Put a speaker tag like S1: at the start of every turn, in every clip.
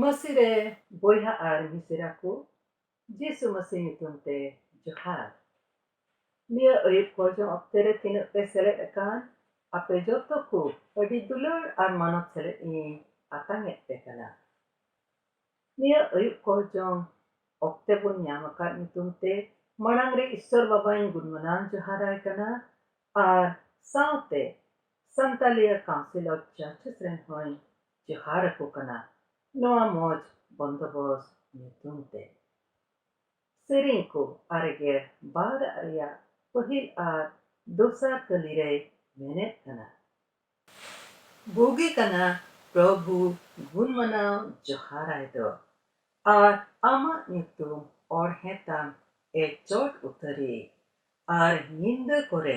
S1: ᱢᱟᱹᱥᱤ ᱨᱮ ᱵᱚᱭᱦᱟ ᱟᱨ ᱢᱤᱥᱮᱨᱟ ᱠᱚ ᱡᱤᱥᱩ ᱢᱟᱹᱥᱤ ᱧᱩᱛᱩᱢ ᱛᱮ ᱡᱚᱦᱟᱨ ᱱᱤᱭᱟᱹ ᱟᱹᱭᱩᱵ ᱠᱚᱨᱡᱚᱱ ᱚᱠᱛᱮ ᱨᱮ ᱛᱤᱱᱟᱹᱜ ᱯᱮ ᱥᱮᱞᱮᱫ ᱟᱠᱟᱱ ᱟᱯᱮ ᱡᱚᱛᱚ ᱠᱚ ᱟᱹᱰᱤ ᱫᱩᱞᱟᱹᱲ ᱟᱨ ᱢᱟᱱᱚᱛ ᱥᱮᱞᱮᱫ ᱤᱧ ᱟᱛᱟᱝ ᱮᱫ ᱯᱮ ᱠᱟᱱᱟ ᱱᱤᱭᱟᱹ ᱟᱹᱭᱩᱵ ᱠᱚᱨᱡᱚᱱ ᱚᱠᱛᱮ ᱵᱚᱱ ᱧᱟᱢ ᱟᱠᱟᱫ ᱧᱩᱛᱩᱢ ᱛᱮ ᱢᱟᱲᱟᱝ ᱨᱮ ᱤᱥᱥᱚᱨ ᱵᱟᱵᱟᱧ ᱜᱩᱱᱢᱟᱱᱟᱣ ᱡᱚᱦᱟᱨᱟᱭ ᱠᱟᱱᱟ ᱟᱨ ᱥᱟᱶᱛᱮ ᱥᱟᱱᱛᱟᱞᱤᱭᱟ ᱠᱟᱣᱩᱱᱥᱤᱞ ᱚᱯᱷ ᱪᱟᱨᱪᱮᱥ ᱨᱮᱱ ᱦᱚᱸᱧ ᱡᱚᱦᱟᱨ ᱟᱠᱚ ᱠᱟᱱᱟ ᱱᱚᱣᱟ ᱢᱚᱡᱽ ᱵᱚᱱᱫᱚᱵᱚᱥ ᱧᱩᱛᱩᱢ ᱛᱮ᱾ ᱥᱮᱨᱮᱧ ᱠᱚ ᱟᱨᱮᱜᱮᱞ ᱵᱟᱨ ᱟᱜ ᱨᱮᱭᱟᱜ ᱯᱟᱹᱦᱤᱞ ᱟᱨ ᱫᱚᱥᱟᱨ ᱠᱟᱹᱞᱤ ᱨᱮᱭ ᱢᱮᱱᱮᱫ ᱠᱟᱱᱟ᱾ ᱵᱩᱜᱤ ᱠᱟᱱᱟ ᱯᱨᱚᱵᱷᱩ ᱜᱩᱱ ᱢᱟᱱᱟᱣ ᱡᱚᱦᱟᱨ ᱟᱭ ᱫᱚ᱾ ᱟᱨ ᱟᱢᱟᱜ ᱧᱩᱛᱩᱢ ᱚᱬᱦᱮ ᱛᱟᱢ ᱮ ᱪᱚᱴ ᱩᱛᱟᱹᱨᱤᱡ᱾ ᱟᱨ ᱧᱤᱱᱫᱟᱹ ᱠᱚᱨᱮ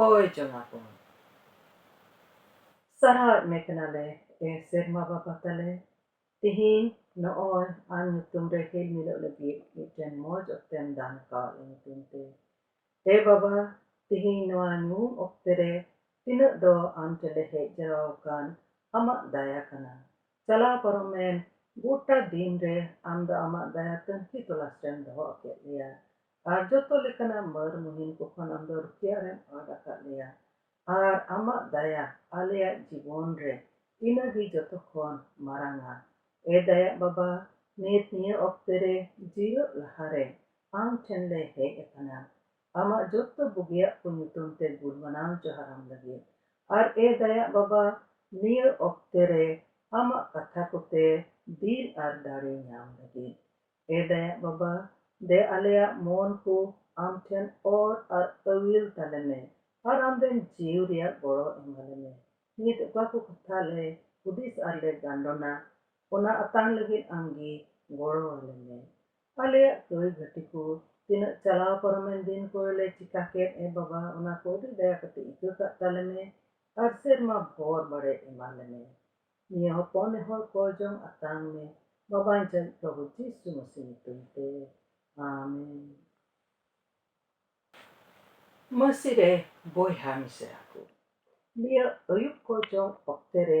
S1: ᱚᱠᱚᱭ ᱪᱚᱱᱟ ᱠᱚ ᱥᱟᱨᱦᱟᱣᱮᱫ ᱢᱮ ᱠᱟᱱᱟᱞᱮ ᱮ ᱥᱮᱨᱢᱟ ᱵᱟᱵᱟ ᱛᱟᱞᱮ ᱛᱮᱦᱮᱧ ᱱᱚᱜᱼᱚᱭ ᱟᱢ ᱧᱩᱛᱩᱢ ᱨᱮ ᱦᱤᱞ ᱢᱤᱞᱚᱜ ᱞᱟᱹᱜᱤᱫ ᱢᱤᱫᱴᱮᱱ ᱢᱚᱡᱽ ᱚᱠᱛᱮᱢ ᱫᱟᱱ ᱟᱠᱟᱣᱟᱫ ᱞᱮ ᱧᱩᱛᱩᱢ ᱛᱮ ᱮ ᱵᱟᱵᱟ ᱛᱮᱦᱮᱧ ᱱᱚᱣᱟ ᱧᱩᱦᱩᱢ ᱚᱠᱛᱮ ᱨᱮ ᱛᱤᱱᱟᱹᱜ ᱫᱚ ᱟᱢ ᱴᱷᱮᱱᱞᱮ ᱦᱮᱡ ᱡᱟᱣᱨᱟ ᱟᱠᱟᱱ ᱟᱢᱟᱜ ᱫᱟᱭᱟ ᱠᱟᱱᱟ ᱪᱟᱞᱟᱣ ᱯᱟᱨᱚᱢᱮᱱ ᱜᱚᱴᱟ ᱫᱤᱱ ᱨᱮ ᱟᱢ ᱫᱚ ᱟᱢᱟᱜ ᱫᱟᱭᱟ ᱛᱟᱹᱱᱠᱷᱤ ᱛᱚᱞᱟᱥ ᱨᱮᱢ ᱫᱚᱦᱚ ᱟᱠᱮᱫ ᱞᱮᱭᱟ ᱟᱨ ᱡᱚᱛᱚ ᱞᱮᱠᱟᱱᱟᱜ ᱢᱟᱹᱨ ᱢᱩᱦᱤᱱ ᱠᱚ ᱠᱷᱚᱱ ᱟᱢ ᱫᱚ ᱨᱩᱠᱷᱤᱭᱟᱹ ᱨᱮᱢ ᱟᱫ ᱟᱠᱟᱫ ᱞᱮᱭᱟ ᱟᱨ ᱟᱢᱟᱜ ᱫᱟᱭᱟ ᱟᱞᱮᱭᱟᱜ ᱡᱤᱵᱚᱱ ᱨᱮ ᱤᱱᱟᱹ ᱜᱮ ᱡᱚᱛᱚ ᱠᱷᱚᱱ ᱢᱟᱨᱟᱝᱼᱟ᱾ ᱮ ᱫᱟᱭᱟᱜ ᱵᱟᱵᱟ, ᱱᱤᱛ ᱱᱤᱭᱟᱹ ᱚᱠᱛᱮ ᱨᱮ ᱡᱤᱨᱟᱹᱜ ᱞᱟᱦᱟ ᱨᱮ ᱟᱢ ᱴᱷᱮᱱ ᱞᱮ ᱦᱮᱡ ᱟᱠᱟᱱᱟ ᱟᱢᱟᱜ ᱡᱚᱛᱚ ᱵᱩᱜᱤᱭᱟᱜ ᱠᱚ ᱧᱩᱛᱩᱢ ᱛᱮ ᱜᱩᱱ ᱢᱟᱱᱟᱣ ᱡᱚᱦᱟᱨ ᱟᱢ ᱞᱟᱹᱜᱤᱫ᱾ ᱟᱨ ᱮ ᱫᱟᱭᱟᱜ ᱵᱟᱵᱟ, ᱱᱤᱭᱟᱹ ᱚᱠᱛᱮ ᱨᱮ ᱟᱢᱟᱜ ᱠᱟᱛᱷᱟ ᱠᱚᱛᱮ ᱫᱤᱞ ᱟᱨ ᱫᱟᱲᱮ ᱧᱟᱢ ᱞᱟᱹᱜᱤᱫ᱾ ᱮ ᱫᱟᱭᱟᱜ ᱵᱟᱵᱟ, ᱫᱮ ᱟᱞᱮᱭᱟᱜ ᱢᱚᱱ ᱠᱚ ᱟᱢ ᱴᱷᱮᱱ ᱚᱨ ᱟᱨ ᱟᱹᱣᱤᱞ ᱛᱟᱞᱮ ᱢᱮ ᱟᱨ ᱟᱢ ᱨᱮᱱ ᱡᱤᱣ ᱨᱮᱭᱟᱜ ᱜᱚᱲᱚ ᱮᱢᱟᱞᱮ ᱢᱮ᱾ ᱱᱤᱛ ᱚᱠᱟ ᱠᱚ ᱠᱟᱛᱷᱟ ᱞᱮ ᱦᱩᱫᱤᱥ ᱟᱨ ᱞᱮ ᱜᱟᱱᱰᱚᱱᱟ, ᱚᱱᱟ ᱟᱛᱟᱝ ᱞᱟᱹᱜᱤᱫ ᱟᱢ ᱜᱮ ᱜᱚᱲᱚ ᱟᱞᱮ ᱢᱮ᱾ ᱟᱞᱮᱭᱟᱜ ᱠᱟᱹᱭ ᱜᱷᱟᱹᱴᱤ ᱠᱚ ᱛᱤᱱᱟᱹᱜ ᱪᱟᱞᱟᱣ ᱯᱟᱨᱚᱢᱮᱱ ᱫᱤᱱ ᱠᱚᱨᱮ ᱞᱮ ᱪᱤᱠᱟ ᱠᱮᱫ ᱮ ᱵᱟᱵᱟ, ᱚᱱᱟ ᱠᱚ ᱟᱹᱰᱤ ᱫᱟᱭᱟ ᱠᱟᱛᱮ ᱤᱠᱟᱹ ᱠᱟᱜ ᱛᱟᱞᱮ ᱢᱮ ᱟᱨ ᱥᱮᱨᱢᱟ ᱵᱷᱚᱨ ᱵᱟᱲᱮ ᱮᱢᱟᱞᱮ ᱢᱮ᱾ ᱱᱤᱭᱟᱹ ᱦᱚᱯᱚᱱ ᱮ ᱦᱚᱲ ᱠᱚ ᱡᱚᱢ ᱟᱛᱟᱝ ᱢᱮ ᱵᱟᱵᱟᱧ ᱪᱟᱹᱨᱤᱡ ᱯᱨᱚᱵᱷᱩ ᱡᱤᱥᱩ ᱢᱟᱹᱥᱤ ᱧᱩᱛᱩᱢ ᱛᱮ ᱟᱢᱮᱱ᱾ ᱢᱟᱹᱥᱤ ᱨᱮ ᱵᱚᱭᱦᱟ ᱢᱤᱥᱨᱟ ᱠᱚ, ᱱᱤᱭᱟᱹ ᱟᱹᱭᱩᱵ ᱠᱚ ᱡᱚᱢ ᱚᱠᱛᱮ ᱨᱮ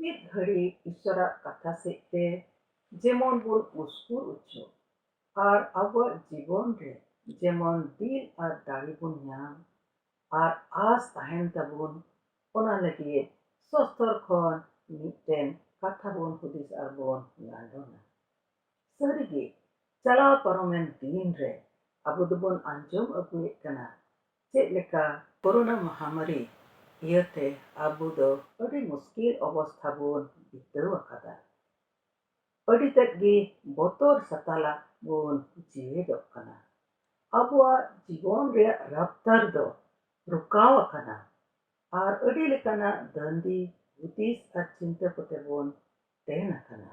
S1: ᱢᱤᱫ ᱜᱷᱟᱹᱲᱤ ᱤᱥᱚᱨᱟᱜ ᱠᱟᱛᱷᱟ ᱥᱮᱡ ᱛᱮ ᱡᱮᱢᱚᱱ ᱵᱚᱱ ᱩᱥᱠᱩᱨ ᱚᱪᱚᱜ ᱟᱨ ᱟᱵᱚᱣᱟᱜ ᱡᱤᱵᱚᱱ ᱨᱮ ᱡᱮᱢᱚᱱ ᱫᱤᱞ ᱟᱨ ᱫᱟᱲᱮ ᱵᱚᱱ ᱧᱟᱢ ᱟᱨ ᱟᱥ ᱛᱟᱦᱮᱱ ᱛᱟᱵᱚᱱ ᱚᱱᱟ ᱞᱟᱹᱜᱤᱫ ᱥᱚᱥᱛᱚᱨ ᱠᱷᱚᱱ ᱢᱤᱫᱴᱮᱱ ᱠᱟᱛᱷᱟ ᱵᱚᱱ ᱦᱩᱫᱤᱥ ᱟᱨ ᱵᱚᱱ ᱜᱟᱸᱰᱚᱱᱟ᱾ ᱥᱟᱹᱨᱤ ᱜᱮ ᱪᱟᱞᱟᱣ ᱯᱟᱨᱚᱢᱮᱱ ᱫᱤᱱ ᱨᱮ ᱟᱵᱚ ᱫᱚᱵᱚᱱ ᱟᱸᱡᱚᱢ ᱟᱹᱜᱩᱭᱮᱫ ᱠᱟᱱᱟ ᱪᱮᱫ ᱞᱮᱠᱟ ᱠᱚᱨᱳᱱᱟ ᱢᱟᱦᱟᱢᱟᱹᱨᱤ ᱤᱭᱟᱹ ᱛᱮ ᱟᱵᱚ ᱫᱚ ᱟᱹᱰᱤ ᱢᱩᱥᱠᱤᱞ ᱚᱵᱚᱥᱛᱷᱟ ᱵᱚᱱ ᱵᱤᱛᱟᱹᱣ ᱟᱠᱟᱫᱟ᱾ ᱟᱹᱰᱤ ᱛᱮᱫ ᱜᱮ ᱵᱚᱛᱚᱨ ᱥᱟᱛᱟᱞᱟᱜ ᱵᱚᱱ ᱡᱮᱣᱮᱫᱚᱜ ᱠᱟᱱᱟ᱾ ᱟᱵᱚᱣᱟᱜ ᱡᱤᱵᱚᱱ ᱨᱮᱭᱟᱜ ᱨᱟᱯᱛᱟᱨ ᱫᱚ ᱨᱚᱠᱟᱣ ᱟᱠᱟᱱᱟ ᱟᱨ ᱟᱹᱰᱤ ᱞᱮᱠᱟᱱᱟᱜ ᱫᱟᱹᱱᱫᱤ ᱦᱩᱫᱤᱥ ᱟᱨ ᱪᱤᱱᱛᱟᱹ ᱠᱚᱛᱮ ᱵᱚᱱ ᱛᱮᱱ ᱟᱠᱟᱱᱟ᱾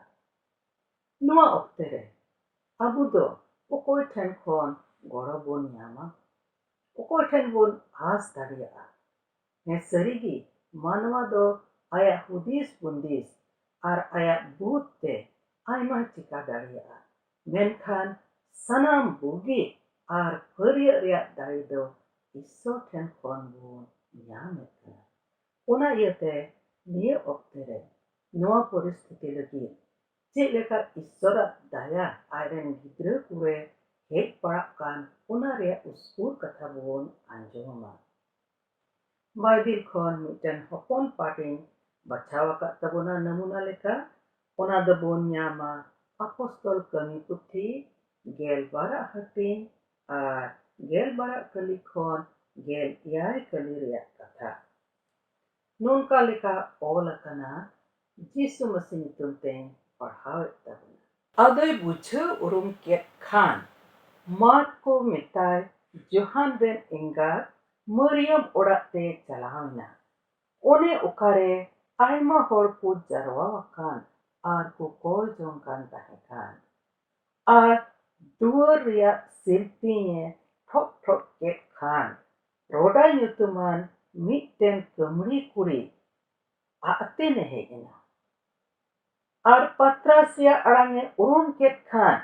S1: ᱱᱚᱶᱟ ᱚᱠᱛᱮ ᱨᱮ ᱟᱵᱚ ᱫᱚ ᱚᱠᱚᱭ ᱴᱷᱮᱱ ᱠᱷᱚᱱ ᱜᱚᱲᱚ ᱵᱚᱱ ᱧᱟᱢᱟ? ᱚᱠᱚᱭ ᱴᱷᱮᱱ ᱵᱚᱱ ᱟᱸᱥ ᱫᱟᱲᱮᱭᱟᱜᱼᱟ? ᱦᱮᱸ ᱥᱟᱹᱨᱤ ᱜᱮ ᱢᱟᱱᱣᱟ ᱫᱚ ᱟᱭᱟᱜ ᱦᱩᱫᱤᱥ ᱵᱩᱱᱫᱤᱥ ᱟᱨ ᱟᱭᱟᱜ ᱵᱩᱫᱷ ᱛᱮ ᱟᱭᱢᱟ ᱪᱤᱠᱟ ᱫᱟᱲᱮᱭᱟᱜᱼᱟ ᱢᱮᱱᱠᱷᱟᱱ ᱥᱟᱱᱟᱢ ᱵᱩᱜᱤ ᱟᱨ ᱯᱷᱟᱹᱨᱭᱟᱹᱜ ᱨᱮᱭᱟᱜ ᱫᱟᱲᱮ ᱫᱚ ᱤᱥᱥᱚᱨ ᱴᱷᱮᱱ ᱠᱷᱚᱱ ᱵᱚᱱ ᱧᱟᱢ ᱮᱫ ᱠᱟᱱᱟ ᱚᱱᱟ ᱤᱭᱟᱹ ᱛᱮ ᱱᱤᱭᱟᱹ ᱚᱠᱛᱮ ᱨᱮ ᱱᱚᱣᱟ ᱯᱚᱨᱤᱥᱛᱷᱤᱛᱤ ᱞᱟᱹᱜᱤᱫ ᱪᱮᱫ ᱞᱮᱠᱟ ᱤᱥᱥᱚᱨ ᱟᱜ ᱫᱟᱭᱟ ᱟᱡ ᱨᱮᱱ ᱜᱤᱫᱽᱨᱟᱹ ᱠᱚ ᱨᱮ ᱦᱮᱡ ᱯᱟᱲᱟᱜ ᱠᱟᱱ ᱚᱱᱟ ᱨᱮᱭᱟᱜ ᱩᱥᱠᱩᱨ ᱠᱟᱛᱷᱟ ᱵᱚᱱ ᱟᱸᱡᱚᱢᱟ᱾ ᱵᱟᱭᱵᱤᱞ ᱠᱷᱚᱱ ᱢᱤᱫᱴᱟᱹᱝ ᱦᱚᱯᱚᱱ ᱯᱟᱴ ᱤᱧ ᱵᱟᱪᱷᱟᱣ ᱟᱠᱟᱫ ᱛᱟᱵᱚᱱᱟ ᱱᱟᱢᱩᱱᱟ ᱞᱮᱠᱟ᱾ ᱚᱱᱟ ᱫᱚ ᱵᱚᱱ ᱧᱟᱢᱟ ᱟᱯᱚᱥᱛᱚᱞ ᱠᱟᱹᱢᱤ ᱯᱩᱛᱷᱤ ᱜᱮᱞ ᱵᱟᱨ ᱟᱜ ᱦᱟᱹᱴᱤᱧ ᱟᱨ ᱜᱮᱞ ᱵᱟᱨ ᱟᱜ ᱠᱟᱹᱞᱤ ᱠᱷᱚᱱ ᱜᱮᱞ ᱮᱭᱟᱭ ᱠᱟᱹᱞᱤ ᱨᱮᱭᱟᱜ ᱠᱟᱛᱷᱟ᱾ ᱱᱚᱱᱠᱟ ᱞᱮᱠᱟ ᱚᱞ ᱟᱠᱟᱱᱟ, ᱡᱤ ᱥᱩ ᱢᱟᱥᱤ ᱧᱩᱛᱩᱢ ᱛᱮᱧ ᱯᱟᱲᱦᱟᱣᱮᱫ ᱛᱟᱵᱚᱱᱟ᱾ ᱟᱫᱚᱭ ᱵᱩᱡᱷᱟᱹᱣ ᱩᱨᱩᱢ ᱠᱮᱫ ᱠᱷᱟᱱ ᱢᱟᱨᱠ ᱠᱚ ᱢᱮᱛᱟᱭ ᱡᱚᱦᱟᱱ ᱨᱮᱱ ᱮᱸᱜᱟᱛ ᱢᱟᱹᱨᱤᱭᱟᱢ ᱚᱲᱟᱜ ᱛᱮ ᱪᱟᱞᱟᱣ ᱮᱱᱟ᱾ ᱚᱱᱮ ᱚᱠᱟᱨᱮ ᱟᱭᱢᱟ ᱦᱚᱲ ᱠᱚ ᱡᱟᱨᱣᱟ ᱟᱠᱟᱱ ᱟᱨ ᱠᱚ ᱠᱚᱭ ᱡᱚᱝ ᱠᱟᱱ ᱛᱟᱦᱮᱸ ᱠᱟᱱ᱾ ᱟᱨ ᱫᱩᱣᱟᱹᱨ ᱨᱮᱭᱟᱜ ᱥᱤᱞᱯᱤᱧ ᱮ ᱴᱷᱚᱠ ᱴᱷᱚᱠ ᱠᱮᱫ ᱠᱷᱟᱱ ᱨᱚᱰᱟ ᱧᱩᱛᱩᱢᱟᱱ ᱢᱤᱫᱴᱮᱱ ᱠᱟᱹᱢᱲᱤ ᱠᱩᱲᱤ ᱟᱡ ᱛᱮᱱᱮ ᱦᱮᱡ ᱮᱱᱟ ᱟᱨ ᱯᱟᱛᱨᱟᱥᱤᱭᱟ ᱟᱲᱟᱝ ᱮ ᱩᱨᱩᱢ ᱠᱮᱫ ᱠᱷᱟᱱ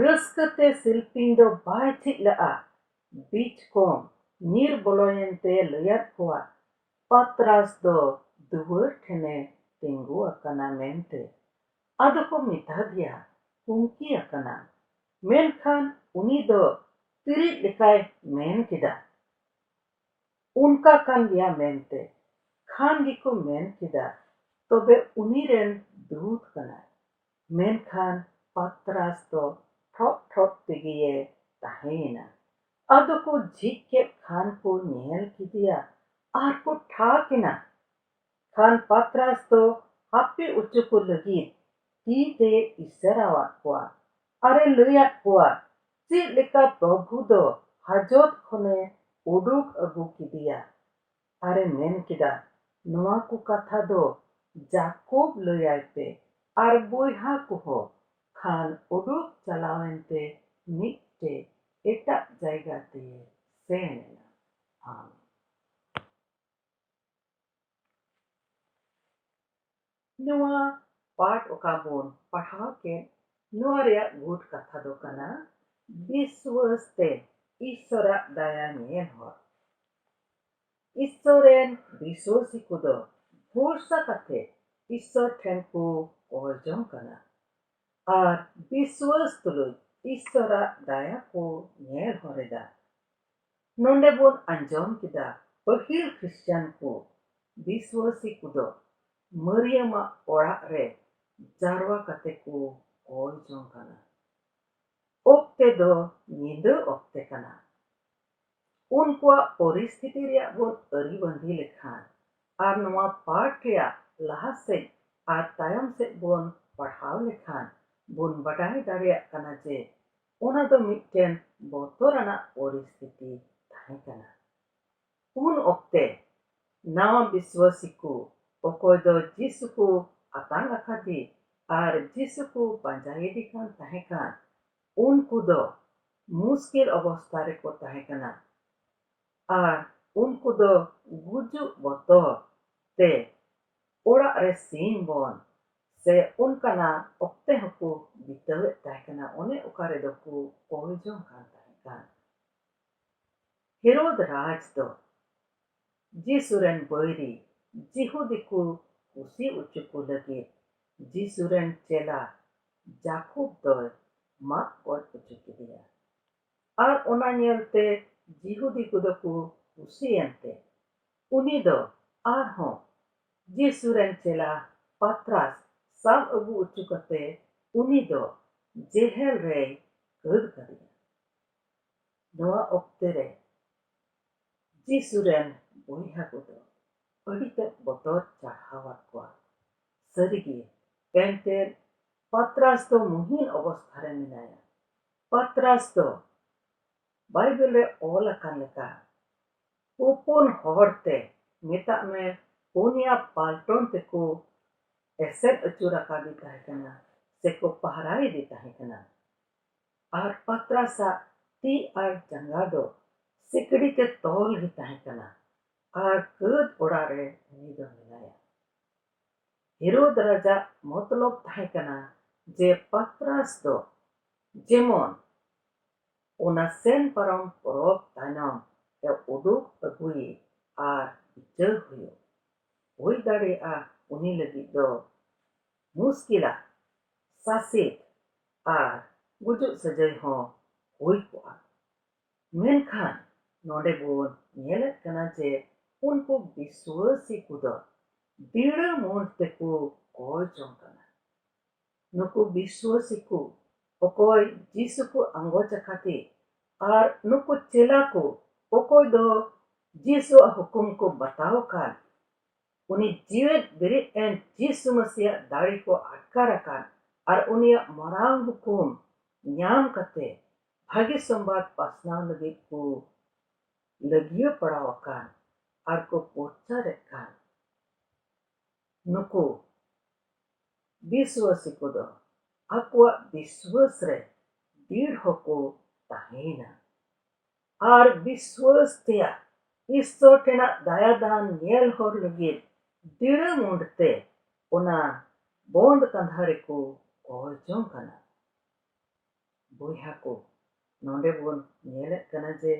S1: ᱨᱟᱹᱥᱠᱟᱹ ᱛᱮ ᱥᱤᱞᱯᱤᱧ ᱫᱚ ᱵᱟᱭ ᱛᱷᱤᱜ ᱞᱟᱜᱼᱟ᱾ ᱵᱤᱡᱽ ᱠᱚᱢ ᱧᱤᱨ ᱵᱚᱞᱚᱭᱮᱱ ᱛᱮ ᱞᱟᱹᱭᱟᱫ ᱠᱚᱣᱟ ᱯᱟᱛᱨᱟᱥ ᱫᱚ ᱫᱩᱣᱟᱹᱨ ᱴᱷᱮᱱᱮ ᱛᱤᱸᱜᱩ ᱟᱠᱟᱱᱟ ᱢᱮᱱᱛᱮ᱾ ᱟᱫᱚ ᱠᱚ ᱢᱮᱛᱟᱫᱮᱭᱟ ᱦᱩᱢᱠᱤ ᱟᱠᱟᱱᱟᱢ᱾ ᱢᱮᱱᱠᱷᱟᱱ ᱩᱱᱤ ᱫᱚ ᱛᱤᱨᱤᱡ ᱞᱮᱠᱟᱭ ᱢᱮᱱ ᱠᱮᱫᱟ᱾ ᱚᱱᱠᱟ ᱠᱟᱱ ᱜᱮᱭᱟ ᱢᱮᱱᱛᱮ ᱠᱷᱟᱱ ᱜᱮᱠᱚ ᱢᱮᱱ ᱠᱮᱫᱟ ᱛᱚᱵᱮ ᱩᱱᱤ ᱨᱮᱱ ᱫᱩᱛ ᱠᱟᱱᱟᱭ᱾ ᱢᱮᱱᱠᱷᱟᱱ ᱯᱟᱛᱨᱟᱥ ᱫᱚ ᱴᱷᱚᱜ ᱴᱷᱚᱜ ᱛᱮᱜᱮᱭᱮ ᱛᱟᱦᱮᱸᱭᱮᱱᱟ᱾ ᱟᱫᱚ ᱠᱚ ᱡᱷᱤᱡ ᱠᱮᱫ ᱠᱷᱟᱱ ᱠᱚ ᱧᱮᱞ ᱠᱮᱫᱮᱭᱟ ᱟᱨ ᱠᱚ ᱴᱷᱟᱜ ᱮᱱᱟ᱾ ᱠᱷᱟᱱ ᱯᱟᱛᱨᱟᱥ ᱫᱚ ᱦᱟᱯᱮ ᱚᱪᱚ ᱠᱚ ᱞᱟᱹᱜᱤᱫ ᱛᱤ ᱛᱮᱭ ᱤᱥᱟᱹᱨᱟᱣᱟᱫ ᱠᱚᱣᱟ ᱟᱨᱮ ᱞᱟᱹᱭ ᱟᱫ ᱠᱚᱣᱟ ᱪᱮᱫ ᱞᱮᱠᱟ ᱯᱨᱚᱵᱷᱩ ᱫᱚ ᱦᱟᱡᱚᱛ ᱠᱷᱚᱱᱮ ᱩᱰᱩᱠ ᱟᱹᱜᱩ ᱠᱮᱫᱮᱭᱟ᱾ ᱟᱨᱮ ᱢᱮᱱ ᱠᱮᱫᱟ, ᱱᱚᱣᱟ ᱠᱚ ᱠᱟᱛᱷᱟ ᱫᱚ ᱡᱟᱠᱚᱵᱽ ᱞᱟᱹᱭ ᱟᱭ ᱯᱮ ᱟᱨ ᱵᱚᱭᱦᱟ ᱠᱚᱦᱚ᱾ ᱠᱷᱟᱱ ᱩᱰᱩᱠ ᱪᱟᱞᱟᱣ ᱮᱱᱛᱮ ᱢᱤᱫᱴᱮᱡ ᱮᱴᱟᱜ ᱡᱟᱭᱜᱟ ᱛᱮᱭᱮ ᱥᱮᱱ ᱮᱱᱟ᱾ ᱟᱢᱮᱱ᱾ ᱱᱚᱣᱟ ᱯᱟᱴᱷ ᱚᱠᱟ ᱵᱚᱱ ᱯᱟᱲᱦᱟᱣ ᱠᱮᱫ ᱱᱚᱣᱟ ᱨᱮᱭᱟᱜ ᱜᱩᱴ ᱠᱟᱛᱷᱟ ᱫᱚ ᱠᱟᱱᱟ ᱵᱤᱥᱣᱟᱹᱥ ᱛᱮ ᱤᱥᱥᱚᱨᱟᱜ ᱫᱟᱭᱟ ᱧᱮᱧᱮᱞ ᱦᱚᱨ᱾ ᱤᱥᱥᱚᱨ ᱨᱮᱱ ᱵᱤᱥᱣᱟᱹᱥᱤ ᱠᱚᱫᱚ ᱵᱷᱚᱨᱥᱟ ᱠᱟᱛᱮ ᱤᱥᱥᱚᱨ ᱴᱷᱮᱱ ᱠᱚ ᱠᱚᱭ ᱡᱚᱝ ᱠᱟᱱᱟ ᱟᱨ ᱵᱤᱥᱣᱟᱹᱥ ᱛᱩᱞᱩᱡ ᱤᱥᱥᱚᱨᱟᱜ ᱫᱟᱭᱟ ᱠᱚ ᱧᱮᱞ ᱦᱚᱨ ᱮᱫᱟ᱾ ᱱᱚᱸᱰᱮ ᱵᱚᱱ ᱟᱸᱡᱚᱢ ᱠᱮᱫᱟ ᱯᱟᱹᱦᱤᱞ ᱠᱷᱨᱤᱥᱪᱟᱱ ᱠᱚ ᱵᱤᱥᱣᱟᱹᱥᱤ ᱠᱚᱫᱚ ᱢᱟᱹᱨᱤᱭᱟᱹᱢ ᱟᱜ ᱚᱲᱟᱜ ᱨᱮ ᱡᱟᱨᱣᱟ ᱠᱟᱛᱮ ᱠᱚ ᱠᱚᱭ ᱡᱚᱝ ᱠᱟᱱᱟ᱾ ᱚᱠᱛᱮ ᱫᱚ ᱧᱤᱫᱟᱹ ᱚᱠᱛᱮ ᱠᱟᱱᱟ᱾ ᱩᱱᱠᱩᱣᱟᱜ ᱯᱚᱨᱤᱥᱛᱷᱤᱛᱤ ᱨᱮᱭᱟᱜ ᱵᱚᱱ ᱟᱹᱨᱤᱵᱟᱺᱫᱤ ᱞᱮᱠᱷᱟᱱ ᱟᱨ ᱱᱚᱶᱟ ᱯᱟᱴᱷ ᱨᱮᱭᱟᱜ ᱞᱟᱦᱟ ᱥᱮᱡ ᱟᱨ ᱛᱟᱭᱚᱢ ᱥᱮᱡ ᱵᱚᱱ ᱯᱟᱲᱦᱟᱣ ᱞᱮᱠᱷᱟᱱ ᱵᱚᱱ ᱵᱟᱰᱟᱭ ᱫᱟᱲᱮᱭᱟᱜ ᱠᱟᱱᱟ ᱡᱮ ᱚᱱᱟ ᱫᱚ ᱢᱤᱫᱴᱮᱱ ᱵᱚᱛᱚᱨ ᱟᱱᱟᱜ ᱯᱚᱨᱤᱥᱛᱷᱤᱛᱤ ᱛᱟᱦᱮᱸ ᱠᱟᱱᱟ᱾ ᱩᱱ ᱚᱠᱛᱮ, ᱱᱟᱶᱟ ᱵᱤᱥᱣᱟᱹᱥᱤ ᱠᱚ, ᱚᱠᱚᱭ ᱫᱚ ᱡᱤᱥᱩ ᱠᱚ ᱟᱛᱟᱝ ᱟᱠᱟᱫᱮ ᱟᱨ ᱡᱤᱥᱩ ᱠᱚ ᱯᱟᱸᱡᱟᱭᱮᱫᱮ ᱠᱟᱱ ᱛᱟᱦᱮᱸ ᱠᱟᱱ, ᱩᱱᱠᱩ ᱫᱚ ᱢᱩᱥᱠᱤᱞ ᱚᱵᱚᱥᱛᱟ ᱨᱮ ᱠᱚ ᱛᱟᱦᱮᱸ ᱠᱟᱱᱟ᱾ ᱟᱨ ᱩᱱᱠᱩ ᱫᱚ ᱜᱩᱡᱩᱜ ᱵᱚᱛᱚᱨ ᱛᱮ ᱚᱲᱟᱜ ᱨᱮ ᱥᱤᱢ ᱵᱚᱱ ᱥᱮ ᱚᱱᱠᱟᱱᱟᱜ ᱚᱠᱛᱮ ᱦᱚᱸᱠᱚ ᱵᱤᱛᱟᱹᱣᱮᱫ ᱛᱟᱦᱮᱸ ᱠᱟᱱᱟ ᱚᱱᱮ ᱚᱠᱟ ᱨᱮᱫᱚ ᱠᱚ ᱚᱞ ᱡᱚᱝ ᱠᱟᱱ ᱛᱟᱦᱮᱸ ᱠᱟᱱ᱾ ᱦᱮᱨᱳᱫᱽ ᱨᱟᱡᱽ ᱫᱚ ᱡᱤᱥᱩ ᱨᱮᱱ ᱵᱟᱹᱭᱨᱤ ᱡᱤᱦᱩᱫᱤ ᱠᱚ ᱠᱩᱥᱤ ᱚᱪᱚ ᱠᱚ ᱞᱟᱹᱜᱤᱫ ᱡᱤᱥᱩ ᱨᱮᱱ ᱪᱮᱞᱟ ᱡᱟᱠᱚᱵᱽ ᱫᱚᱭ ᱢᱟᱜ ᱜᱚᱡ ᱚᱪᱚ ᱠᱮᱫᱮᱭᱟ᱾ ᱟᱨ ᱚᱱᱟ ᱧᱮᱞ ᱛᱮ ᱡᱤᱦᱩᱫᱤ ᱠᱚᱫᱚ ᱠᱚ ᱠᱩᱥᱤ ᱮᱱ ᱛᱮ ᱩᱱᱤ ᱫᱚ ᱟᱨ ᱦᱚᱸ ᱡᱤᱥᱩ ᱨᱮᱱ ᱪᱮᱞᱟ ᱯᱟᱛᱨᱟᱥ ᱥᱟᱵ ᱟᱹᱜᱩ ᱚᱪᱚ ᱠᱟᱛᱮ ᱩᱱᱤ ᱫᱚ ᱡᱮᱦᱮᱞ ᱨᱮᱭ ᱠᱟᱹᱫ ᱠᱟᱫᱮᱭᱟ᱾ ᱱᱚᱣᱟ ᱚᱠᱛᱮ ᱨᱮ ᱡᱤᱥᱩ ᱨᱮᱱ ᱵᱚᱭᱦᱟ ᱠᱚᱫᱚ ᱟᱹᱰᱤ ᱛᱮᱫ ᱵᱚᱛᱚᱨ ᱪᱟᱲᱦᱟᱣ ᱟᱫ ᱠᱚᱣᱟ᱾ ᱥᱟᱹᱨᱤ ᱜᱮ ᱮᱱᱛᱮᱫ ᱯᱟᱛᱨᱟᱥ ᱫᱚ ᱢᱩᱦᱤᱱ ᱚᱵᱚᱥᱛᱷᱟ ᱨᱮ ᱢᱮᱱᱟᱭᱟ᱾ ᱯᱟᱛᱨᱟᱥ ᱫᱚ ᱵᱟᱭᱵᱮᱞ ᱨᱮ ᱚᱞ ᱟᱠᱟᱱ ᱞᱮᱠᱟ ᱩᱯᱩᱱ ᱦᱚᱲ ᱛᱮ ᱢᱮᱛᱟᱜ ᱢᱮ ᱯᱩᱱᱭᱟ ᱯᱟᱞᱴᱚᱱ ᱛᱮᱠᱚ ᱮᱥᱮᱫ ᱟᱹᱪᱩᱨ ᱟᱠᱟᱫᱮ ᱛᱟᱦᱮᱸ ᱠᱟᱱᱟ ᱥᱮᱠᱚ ᱯᱟᱦᱨᱟᱭᱮᱫᱮ ᱛᱟᱦᱮᱸ ᱠᱟᱱᱟ ᱟᱨ ᱯᱟᱛᱨᱟᱥᱟᱜ ᱛᱤ ᱟᱨ ᱡᱟᱸᱜᱟ ᱫᱚ ᱥᱤᱠᱲᱤ ᱛᱮ ᱛᱚᱞ ᱜᱮ ᱛᱟᱦᱮᱸ ᱠᱟᱱᱟ ᱟᱨ ᱠᱟᱹᱫ ᱚᱲᱟᱜ ᱨᱮ ᱩᱱᱤ ᱫᱚ ᱢᱮᱱᱟᱭᱟ ᱦᱮᱨᱳᱫᱽ ᱨᱟᱡᱟᱜ ᱢᱚᱛᱞᱚᱵᱽ ᱛᱟᱦᱮᱸ ᱠᱟᱱᱟ ᱡᱮ ᱯᱟᱛᱨᱟᱥ ᱫᱚ ᱡᱮᱢᱚᱱ ᱚᱱᱟ ᱥᱮᱱ ᱯᱟᱨᱚᱢ ᱯᱚᱨᱚᱵᱽ ᱛᱟᱭᱱᱚᱢ ᱮ ᱩᱰᱩᱠ ᱟᱹᱜᱩᱭᱮ ᱟᱨ ᱵᱤᱪᱟᱹᱨ ᱦᱩᱭᱩᱜ᱾ ᱦᱩᱭ ᱫᱟᱲᱮᱭᱟᱜᱼᱟ ᱩᱱᱤ ᱞᱟᱹᱜᱤᱫ ᱫᱚ ᱢᱩᱥᱠᱤᱞᱟ ᱥᱟᱥᱮᱛ ᱟᱨ ᱜᱩᱡᱩᱜ ᱥᱟᱹᱡᱟᱹᱭ ᱦᱚᱸ ᱦᱩᱭ ᱠᱚᱜᱼᱟ᱾ ᱢᱮᱱᱠᱷᱟᱱ ᱱᱚᱸᱰᱮ ᱵᱚᱱ ᱧᱮᱞᱮᱫ ᱠᱟᱱᱟ ᱡᱮ ᱩᱱᱠᱩ ᱵᱤᱥᱣᱟᱹᱥᱤ ᱠᱚᱫᱚ ᱫᱤᱲᱟᱹ ᱢᱩᱸᱰ ᱛᱮᱠᱚ ᱠᱚᱭ ᱡᱚᱝ ᱠᱟᱱᱟ᱾ ᱱᱩᱠᱩ ᱵᱤᱥᱣᱟᱹᱥᱤ ᱠᱚ ᱚᱠᱚᱭ ᱡᱤᱥᱩ ᱠᱚ ᱟᱸᱜᱚᱪ ᱟᱠᱟᱫᱮ ᱟᱨ ᱱᱩᱠᱩ ᱪᱮᱞᱟ ᱠᱚ ᱚᱠᱚᱭ ᱫᱚ ᱡᱤᱥᱩᱣᱟᱜ ᱦᱩᱠᱩᱢ ᱠᱚ ᱵᱟᱛᱟᱣ ᱟᱠᱟᱫ ᱩᱱᱤ ᱡᱤᱣᱮᱫ ᱵᱮᱨᱮᱫ ᱮᱱ ᱡᱤᱥᱩ ᱢᱟᱹᱥᱤᱭᱟᱜ ᱫᱟᱲᱮ ᱠᱚ ᱟᱴᱠᱟᱨ ᱟᱠᱟᱱ ᱟᱨ ᱩᱱᱤᱭᱟᱜ ᱢᱟᱨᱟᱝ ᱦᱩᱠᱩᱢ ᱧᱟᱢ ᱠᱟᱛᱮ ᱵᱷᱟᱜᱮ ᱥᱚᱢᱵᱟᱫ ᱯᱟᱥᱱᱟᱣ ᱞᱟᱹᱜᱤᱫ ᱠᱚ ᱞᱟᱹᱜᱤᱭᱟᱹ ᱯᱟᱲᱟᱣ ᱟᱠᱟᱱ ᱟᱨ ᱠᱚ ᱯᱚᱨᱪᱟᱨᱮᱫ ᱠᱟᱱ ᱱᱩᱠᱩ ᱵᱤᱥᱣᱟᱹᱥᱤ ᱠᱚᱫᱚ ᱟᱠᱚᱣᱟᱜ ᱵᱤᱥᱣᱟᱹᱥ ᱨᱮ ᱫᱤᱲ ᱦᱚᱸᱠᱚ ᱛᱟᱦᱮᱸᱭᱮᱱᱟ ᱟᱨ ᱵᱤᱥᱣᱟᱹᱥ ᱛᱮᱭᱟᱜ ᱤᱥᱥᱚᱨ ᱴᱷᱮᱱᱟᱜ ᱫᱟᱭᱟᱫᱟᱱ ᱧᱮᱞ ᱦᱚᱨ ᱞᱟᱹᱜᱤᱫ ᱫᱤᱲᱟᱹ ᱢᱩᱸᱰ ᱛᱮ ᱚᱱᱟ ᱵᱚᱸᱫᱽ ᱠᱟᱸᱫᱷᱟ ᱨᱮᱠᱚ ᱚᱨ ᱡᱚᱝ ᱠᱟᱱᱟ᱾ ᱵᱚᱭᱦᱟ ᱠᱚ, ᱱᱚᱸᱰᱮ ᱵᱚᱱ ᱧᱮᱞᱮᱫ ᱠᱟᱱᱟ ᱡᱮ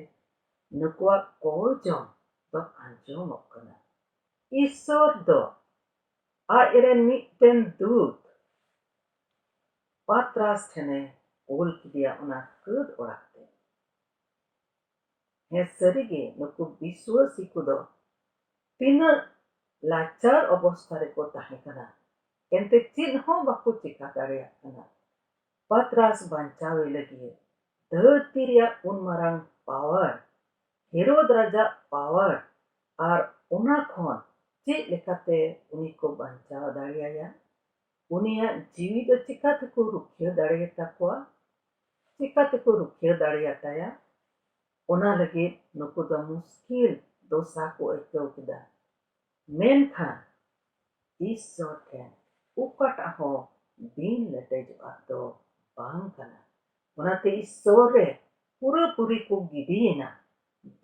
S1: ᱱᱩᱠᱩᱣᱟᱜ ᱚᱨ ᱡᱚᱝ ᱫᱚ ᱟᱸᱡᱚᱢᱚᱜ ᱠᱟᱱᱟ᱾ ᱤᱥᱥᱚᱨ ᱫᱚ ᱟᱡ ᱨᱮᱱ ᱢᱤᱫᱴᱮᱱ ᱫᱩᱛ ᱯᱟᱛᱨᱟᱥ ᱴᱷᱮᱱᱮ ᱠᱳᱞ ᱠᱮᱫᱮᱭᱟ ᱚᱱᱟ ᱠᱟᱹᱫᱽ ᱚᱲᱟᱜ ᱛᱮ᱾ ᱦᱮᱸ ᱥᱟᱹᱨᱤᱜᱮ ᱱᱩᱠᱩ ᱵᱤᱥᱣᱟᱹᱥᱤ ᱠᱚᱫᱚ ᱛᱤᱱᱟᱹᱜ ᱞᱟᱪᱟᱨ ᱚᱵᱚᱥᱛᱷᱟ ᱨᱮᱠᱚ ᱛᱟᱦᱮᱸ ᱠᱟᱱᱟ ᱮᱱᱛᱮ ᱪᱮᱫ ᱦᱚᱸ ᱵᱟᱠᱚ ᱪᱮᱠᱟ ᱫᱟᱲᱮᱭᱟᱜ ᱠᱟᱱᱟ ᱯᱟᱛᱨᱟᱥ ᱵᱟᱧᱪᱟᱣᱮ ᱞᱟᱹᱜᱤᱫ ᱫᱷᱟᱹᱨᱛᱤ ᱨᱮᱭᱟᱜ ᱩᱱ ᱢᱟᱨᱟᱝ ᱯᱟᱣᱟᱨ ᱦᱮᱨᱳᱫ ᱨᱟᱡᱟᱜ ᱯᱟᱣᱟᱨ ᱟᱨ ᱚᱱᱟ ᱠᱷᱚᱱ ᱪᱮᱫ ᱞᱮᱠᱟᱛᱮ ᱩᱱᱤ ᱠᱚ ᱵᱟᱧᱪᱟᱣ ᱫᱟᱲᱮᱭᱟᱭᱟ ᱩᱱᱤᱭᱟᱜ ᱡᱤᱣᱤ ᱫᱚ ᱪᱮᱠᱟ ᱛᱮᱠᱚ ᱨᱩᱠᱷᱤᱭᱟᱹ ᱫᱟᱲᱮᱭᱟ ᱛᱟᱠᱚᱣᱟ? ᱪᱮᱠᱟ ᱛᱮᱠᱚ ᱨᱩᱠᱷᱤᱭᱟᱹ ᱫᱟᱲᱮᱭᱟ ᱛᱟᱭᱟ? ᱚᱱᱟ ᱞᱟᱹᱜᱤᱫ ᱱᱩᱠᱩ ᱫᱚ ᱢᱩᱥᱠᱤᱞ ᱫᱚᱥᱟ ᱠᱚ ᱟᱹᱭᱠᱟᱹᱣ ᱠᱮᱫᱟ᱾ ᱢᱮᱱᱠᱷᱟᱱ ᱤᱥᱥᱚᱨ ᱴᱷᱮᱱ ᱚᱠᱟᱴᱟᱜ ᱦᱚᱸ ᱵᱤᱱ ᱞᱮᱴᱮᱡᱚᱜᱼᱟᱜ ᱫᱚ ᱵᱟᱝ ᱠᱟᱱᱟ᱾ ᱚᱱᱟᱛᱮ ᱤᱥᱥᱚᱨ ᱨᱮ ᱯᱩᱨᱟᱹᱯᱩᱨᱤ ᱠᱚ ᱜᱤᱰᱤ ᱮᱱᱟ,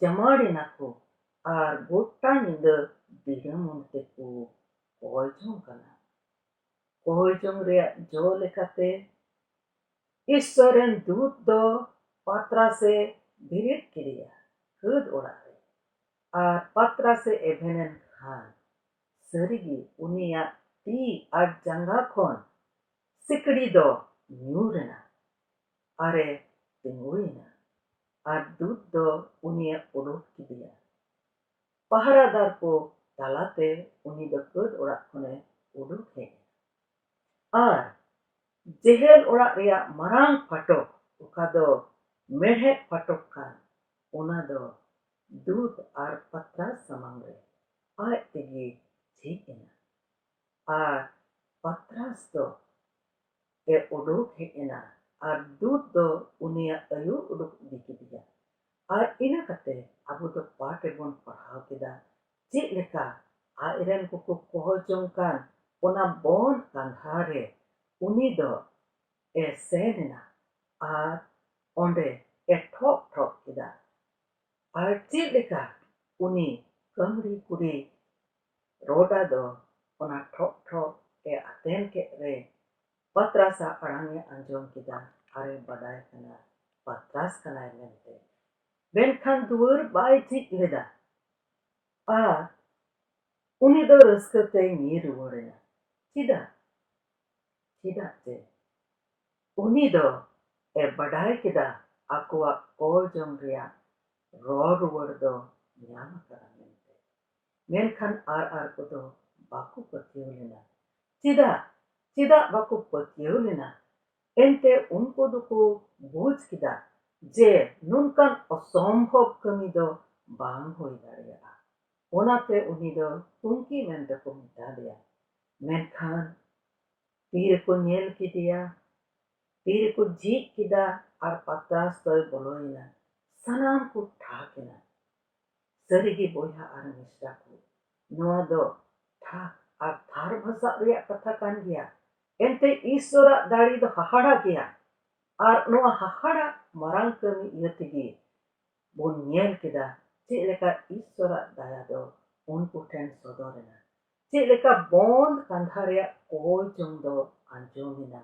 S1: ᱡᱟᱢᱟᱲ ᱮᱱᱟ ᱠᱚ ᱟᱨ ᱜᱚᱴᱟ ᱧᱤᱫᱟᱹ ᱫᱤᱲᱟᱹᱢᱩᱱ ᱛᱮᱠᱚ ᱠᱚᱦᱚᱞ ᱡᱚᱝ ᱠᱟᱱᱟ ᱠᱚᱦᱚᱞ ᱡᱚᱝ ᱨᱮᱭᱟᱜ ᱡᱚ ᱞᱮᱠᱟᱛᱮ ᱤᱥᱥᱚᱨ ᱨᱮᱱ ᱫᱩᱛ ᱫᱚ ᱯᱟᱛᱨᱟᱥᱮ ᱵᱮᱨᱮᱫ ᱠᱮᱫᱮᱭᱟ ᱠᱷᱟᱹᱫ ᱚᱲᱟᱜ ᱨᱮ ᱟᱨ ᱯᱟᱛᱨᱟᱥᱮ ᱮᱵᱷᱮᱱᱮᱱ ᱠᱷᱟᱱ ᱥᱟᱹᱨᱤᱜᱮ ᱩᱱᱤᱭᱟᱜ ᱛᱤ ᱟᱨ ᱡᱟᱸᱜᱟ ᱠᱷᱚᱱ ᱥᱤᱠᱲᱤ ᱫᱚ ᱧᱩᱨ ᱮᱱᱟ ᱟᱨᱮ ᱛᱤᱸᱜᱩᱭᱮᱱᱟ ᱟᱨ ᱫᱩᱛ ᱫᱚ ᱩᱱᱤᱭᱟᱜ ᱩᱰᱩᱠ ᱠᱮᱫᱮᱭᱟ ᱯᱟᱦᱟᱨᱟᱫᱟᱨ ᱠᱚ ᱛᱟᱞᱟ ᱛᱮ ᱩᱱᱤ ᱫᱚ ᱠᱟᱹᱛ ᱚᱲᱟᱜ ᱠᱷᱚᱱ ᱮ ᱩᱰᱩᱠ ᱦᱮᱡ ᱮᱱᱟ ᱟᱨ ᱡᱮᱦᱮᱞ ᱚᱲᱟᱜ ᱨᱮᱭᱟᱜ ᱢᱟᱨᱟᱝ ᱯᱷᱟᱴᱚᱠ ᱚᱠᱟ ᱫᱚ ᱢᱮᱬᱦᱮᱫ ᱯᱷᱟᱴᱚᱠ ᱠᱟᱱ ᱚᱱᱟ ᱫᱚ ᱫᱩᱛ ᱟᱨ ᱯᱟᱛᱨᱟᱥ ᱥᱟᱢᱟᱝ ᱨᱮ ᱟᱡ ᱛᱮᱜᱮ ᱡᱷᱤᱡ ᱮᱱᱟ ᱟᱨ ᱯᱟᱛᱨᱟᱥ ᱫᱚ ᱮ ᱩᱰᱩᱠ ᱦᱮᱡ ᱮᱱᱟ ᱟᱨ ᱫᱩᱛ ᱫᱚ ᱩᱱᱤᱭᱟᱜ ᱟᱭᱩ ᱩᱰᱩᱠ ᱤᱫᱤ ᱠᱮᱫᱮᱭᱟ᱾ ᱟᱨ ᱤᱱᱟᱹ ᱠᱟᱛᱮ ᱟᱵᱚ ᱫᱚ ᱯᱟᱴ ᱨᱮᱵᱚᱱ ᱯᱟᱲᱦᱟᱣ ᱠᱮᱫᱟ ᱪᱮᱫ ᱞᱮᱠᱟ ᱟᱡ ᱨᱮᱱ ᱠᱚᱠᱚ ᱠᱚᱦᱚ ᱡᱚᱝ ᱠᱟᱱ ᱚᱱᱟ ᱵᱚᱱ ᱠᱟᱸᱫᱷᱟ ᱨᱮ ᱩᱱᱤ ᱫᱚ ᱮ ᱥᱮᱱ ᱮᱱᱟ ᱟᱨ ᱚᱸᱰᱮ ᱮ ᱴᱷᱚᱜ ᱴᱷᱚᱜ ᱠᱮᱫᱟ ᱟᱨ ᱪᱮᱫ ᱞᱮᱠᱟ ᱩᱱᱤ ᱠᱟᱹᱢᱲᱤ ᱠᱩᱲᱤ ᱨᱳᱰᱟ ᱫᱚ ᱚᱱᱟ ᱴᱷᱚᱜ ᱴᱷᱚᱜ ᱮ ᱟᱛᱮᱱ ᱠᱮᱫ ᱨᱮ ᱯᱟᱛᱨᱟᱥ ᱟᱜ ᱟᱲᱟᱝ ᱮ ᱟᱸᱡᱚᱢ ᱠᱮᱫᱟ ᱟᱨ ᱮ ᱵᱟᱰᱟᱭ ᱠᱟᱱᱟ ᱯᱟᱛᱨᱟᱥ ᱠᱟᱱᱟᱭ ᱢᱮᱱᱛᱮ᱾ ᱢᱮᱱᱠᱷᱟᱱ ᱫᱩᱣᱟᱹᱨ ᱵᱟᱭ ᱡᱷᱤᱡ ᱞᱮᱫᱟ ᱟᱨ ᱩᱱᱤ ᱫᱚ ᱨᱟᱹᱥᱠᱟᱹ ᱛᱮᱭ ᱧᱤᱨ ᱨᱩᱣᱟᱹᱲ ᱮᱱᱟ᱾ ᱪᱮᱫᱟᱜ? ᱪᱮᱫᱟᱜ ᱡᱮ ᱩᱱᱤ ᱫᱚ ᱮ ᱵᱟᱰᱟᱭ ᱠᱮᱫᱟ ᱟᱠᱚᱣᱟᱜ ᱠᱚᱭ ᱡᱚᱝ ᱨᱮᱭᱟᱜ ᱨᱚᱲ ᱨᱩᱣᱟᱹᱲ ᱫᱚ ᱧᱟᱢ ᱟᱠᱟᱱᱟ ᱢᱮᱱᱛᱮ᱾ ᱢᱮᱱᱠᱷᱟᱱ ᱟᱨ ᱟᱨ ᱠᱚᱫᱚ ᱵᱟᱠᱚ ᱯᱟᱹᱛᱭᱟᱹᱣ ᱞᱮᱱᱟ᱾ ᱪᱮᱫᱟᱜ? ᱪᱮᱫᱟᱜ ᱵᱟᱠᱚ ᱯᱟᱹᱛᱭᱟᱹᱣ ᱞᱮᱱᱟ? ᱮᱱᱛᱮ ᱩᱱᱠᱩ ᱫᱚᱠᱚ ᱵᱩᱡᱽ ᱠᱮᱫᱟ ᱡᱮ ᱱᱚᱝᱠᱟᱱ ᱚᱥᱚᱢᱵᱷᱚᱵᱽ ᱠᱟᱹᱢᱤ ᱫᱚ ᱵᱟᱝ ᱦᱩᱭ ᱫᱟᱲᱮᱭᱟᱜᱼᱟ᱾ ᱚᱱᱟᱛᱮ ᱩᱱᱤ ᱫᱚ ᱛᱩᱝᱠᱤ ᱢᱮᱱᱛᱮ ᱠᱚ ᱢᱮᱛᱟᱫᱮᱭᱟ᱾ ᱢᱮᱱᱠᱷᱟᱱ ᱛᱤᱨᱮᱠᱚ ᱧᱮᱞ ᱠᱮᱫᱮᱭᱟ, ᱛᱤᱨᱮᱠᱚ ᱡᱷᱤᱡ ᱠᱮᱫᱟ ᱟᱨ ᱯᱟᱛᱨᱟᱥ ᱫᱚᱭ ᱵᱚᱞᱚᱭᱮᱱᱟ, ᱥᱟᱱᱟᱢ ᱠᱚ ᱴᱷᱟᱠ ᱮᱱᱟ᱾ ᱥᱟᱹᱨᱤᱜᱮ ᱵᱚᱭᱦᱟ ᱟᱨ ᱢᱤᱥᱨᱟ ᱠᱚ ᱱᱚᱣᱟ ᱫᱚ ᱴᱷᱟᱠ ᱟᱨ ᱛᱷᱟᱨ ᱵᱷᱟᱥᱟᱜ ᱨᱮᱭᱟᱜ ᱠᱟᱛᱷᱟ ᱠᱟᱱ ᱜᱮᱭᱟ ᱮᱱᱛᱮ ᱤᱥᱥᱚᱨᱟᱜ ᱫᱟᱲᱮ ᱫᱚ ᱦᱟᱦᱟᱲᱟ ᱜᱮᱭᱟ ᱟᱨ ᱱᱚᱣᱟ ᱦᱟᱦᱟᱲᱟ ᱢᱟᱨᱟᱝ ᱠᱟᱹᱢᱤ ᱤᱭᱟᱹ ᱛᱮᱜᱮ ᱵᱚᱱ ᱧᱮᱞ ᱠᱮᱫᱟ ᱪᱮᱫ ᱞᱮᱠᱟ ᱤᱥᱥᱚᱨᱟᱜ ᱫᱟᱭᱟ ᱫᱚ ᱩᱱᱠᱩ ᱴᱷᱮᱱ ᱥᱚᱫᱚᱨ ᱮᱱᱟ ᱪᱮᱫ ᱞᱮᱠᱟ ᱵᱚᱸᱫᱽ ᱠᱟᱸᱫᱷᱟ ᱨᱮᱭᱟᱜ ᱠᱚᱭ ᱡᱚᱝ ᱫᱚ ᱟᱸᱡᱚᱢ ᱮᱱᱟ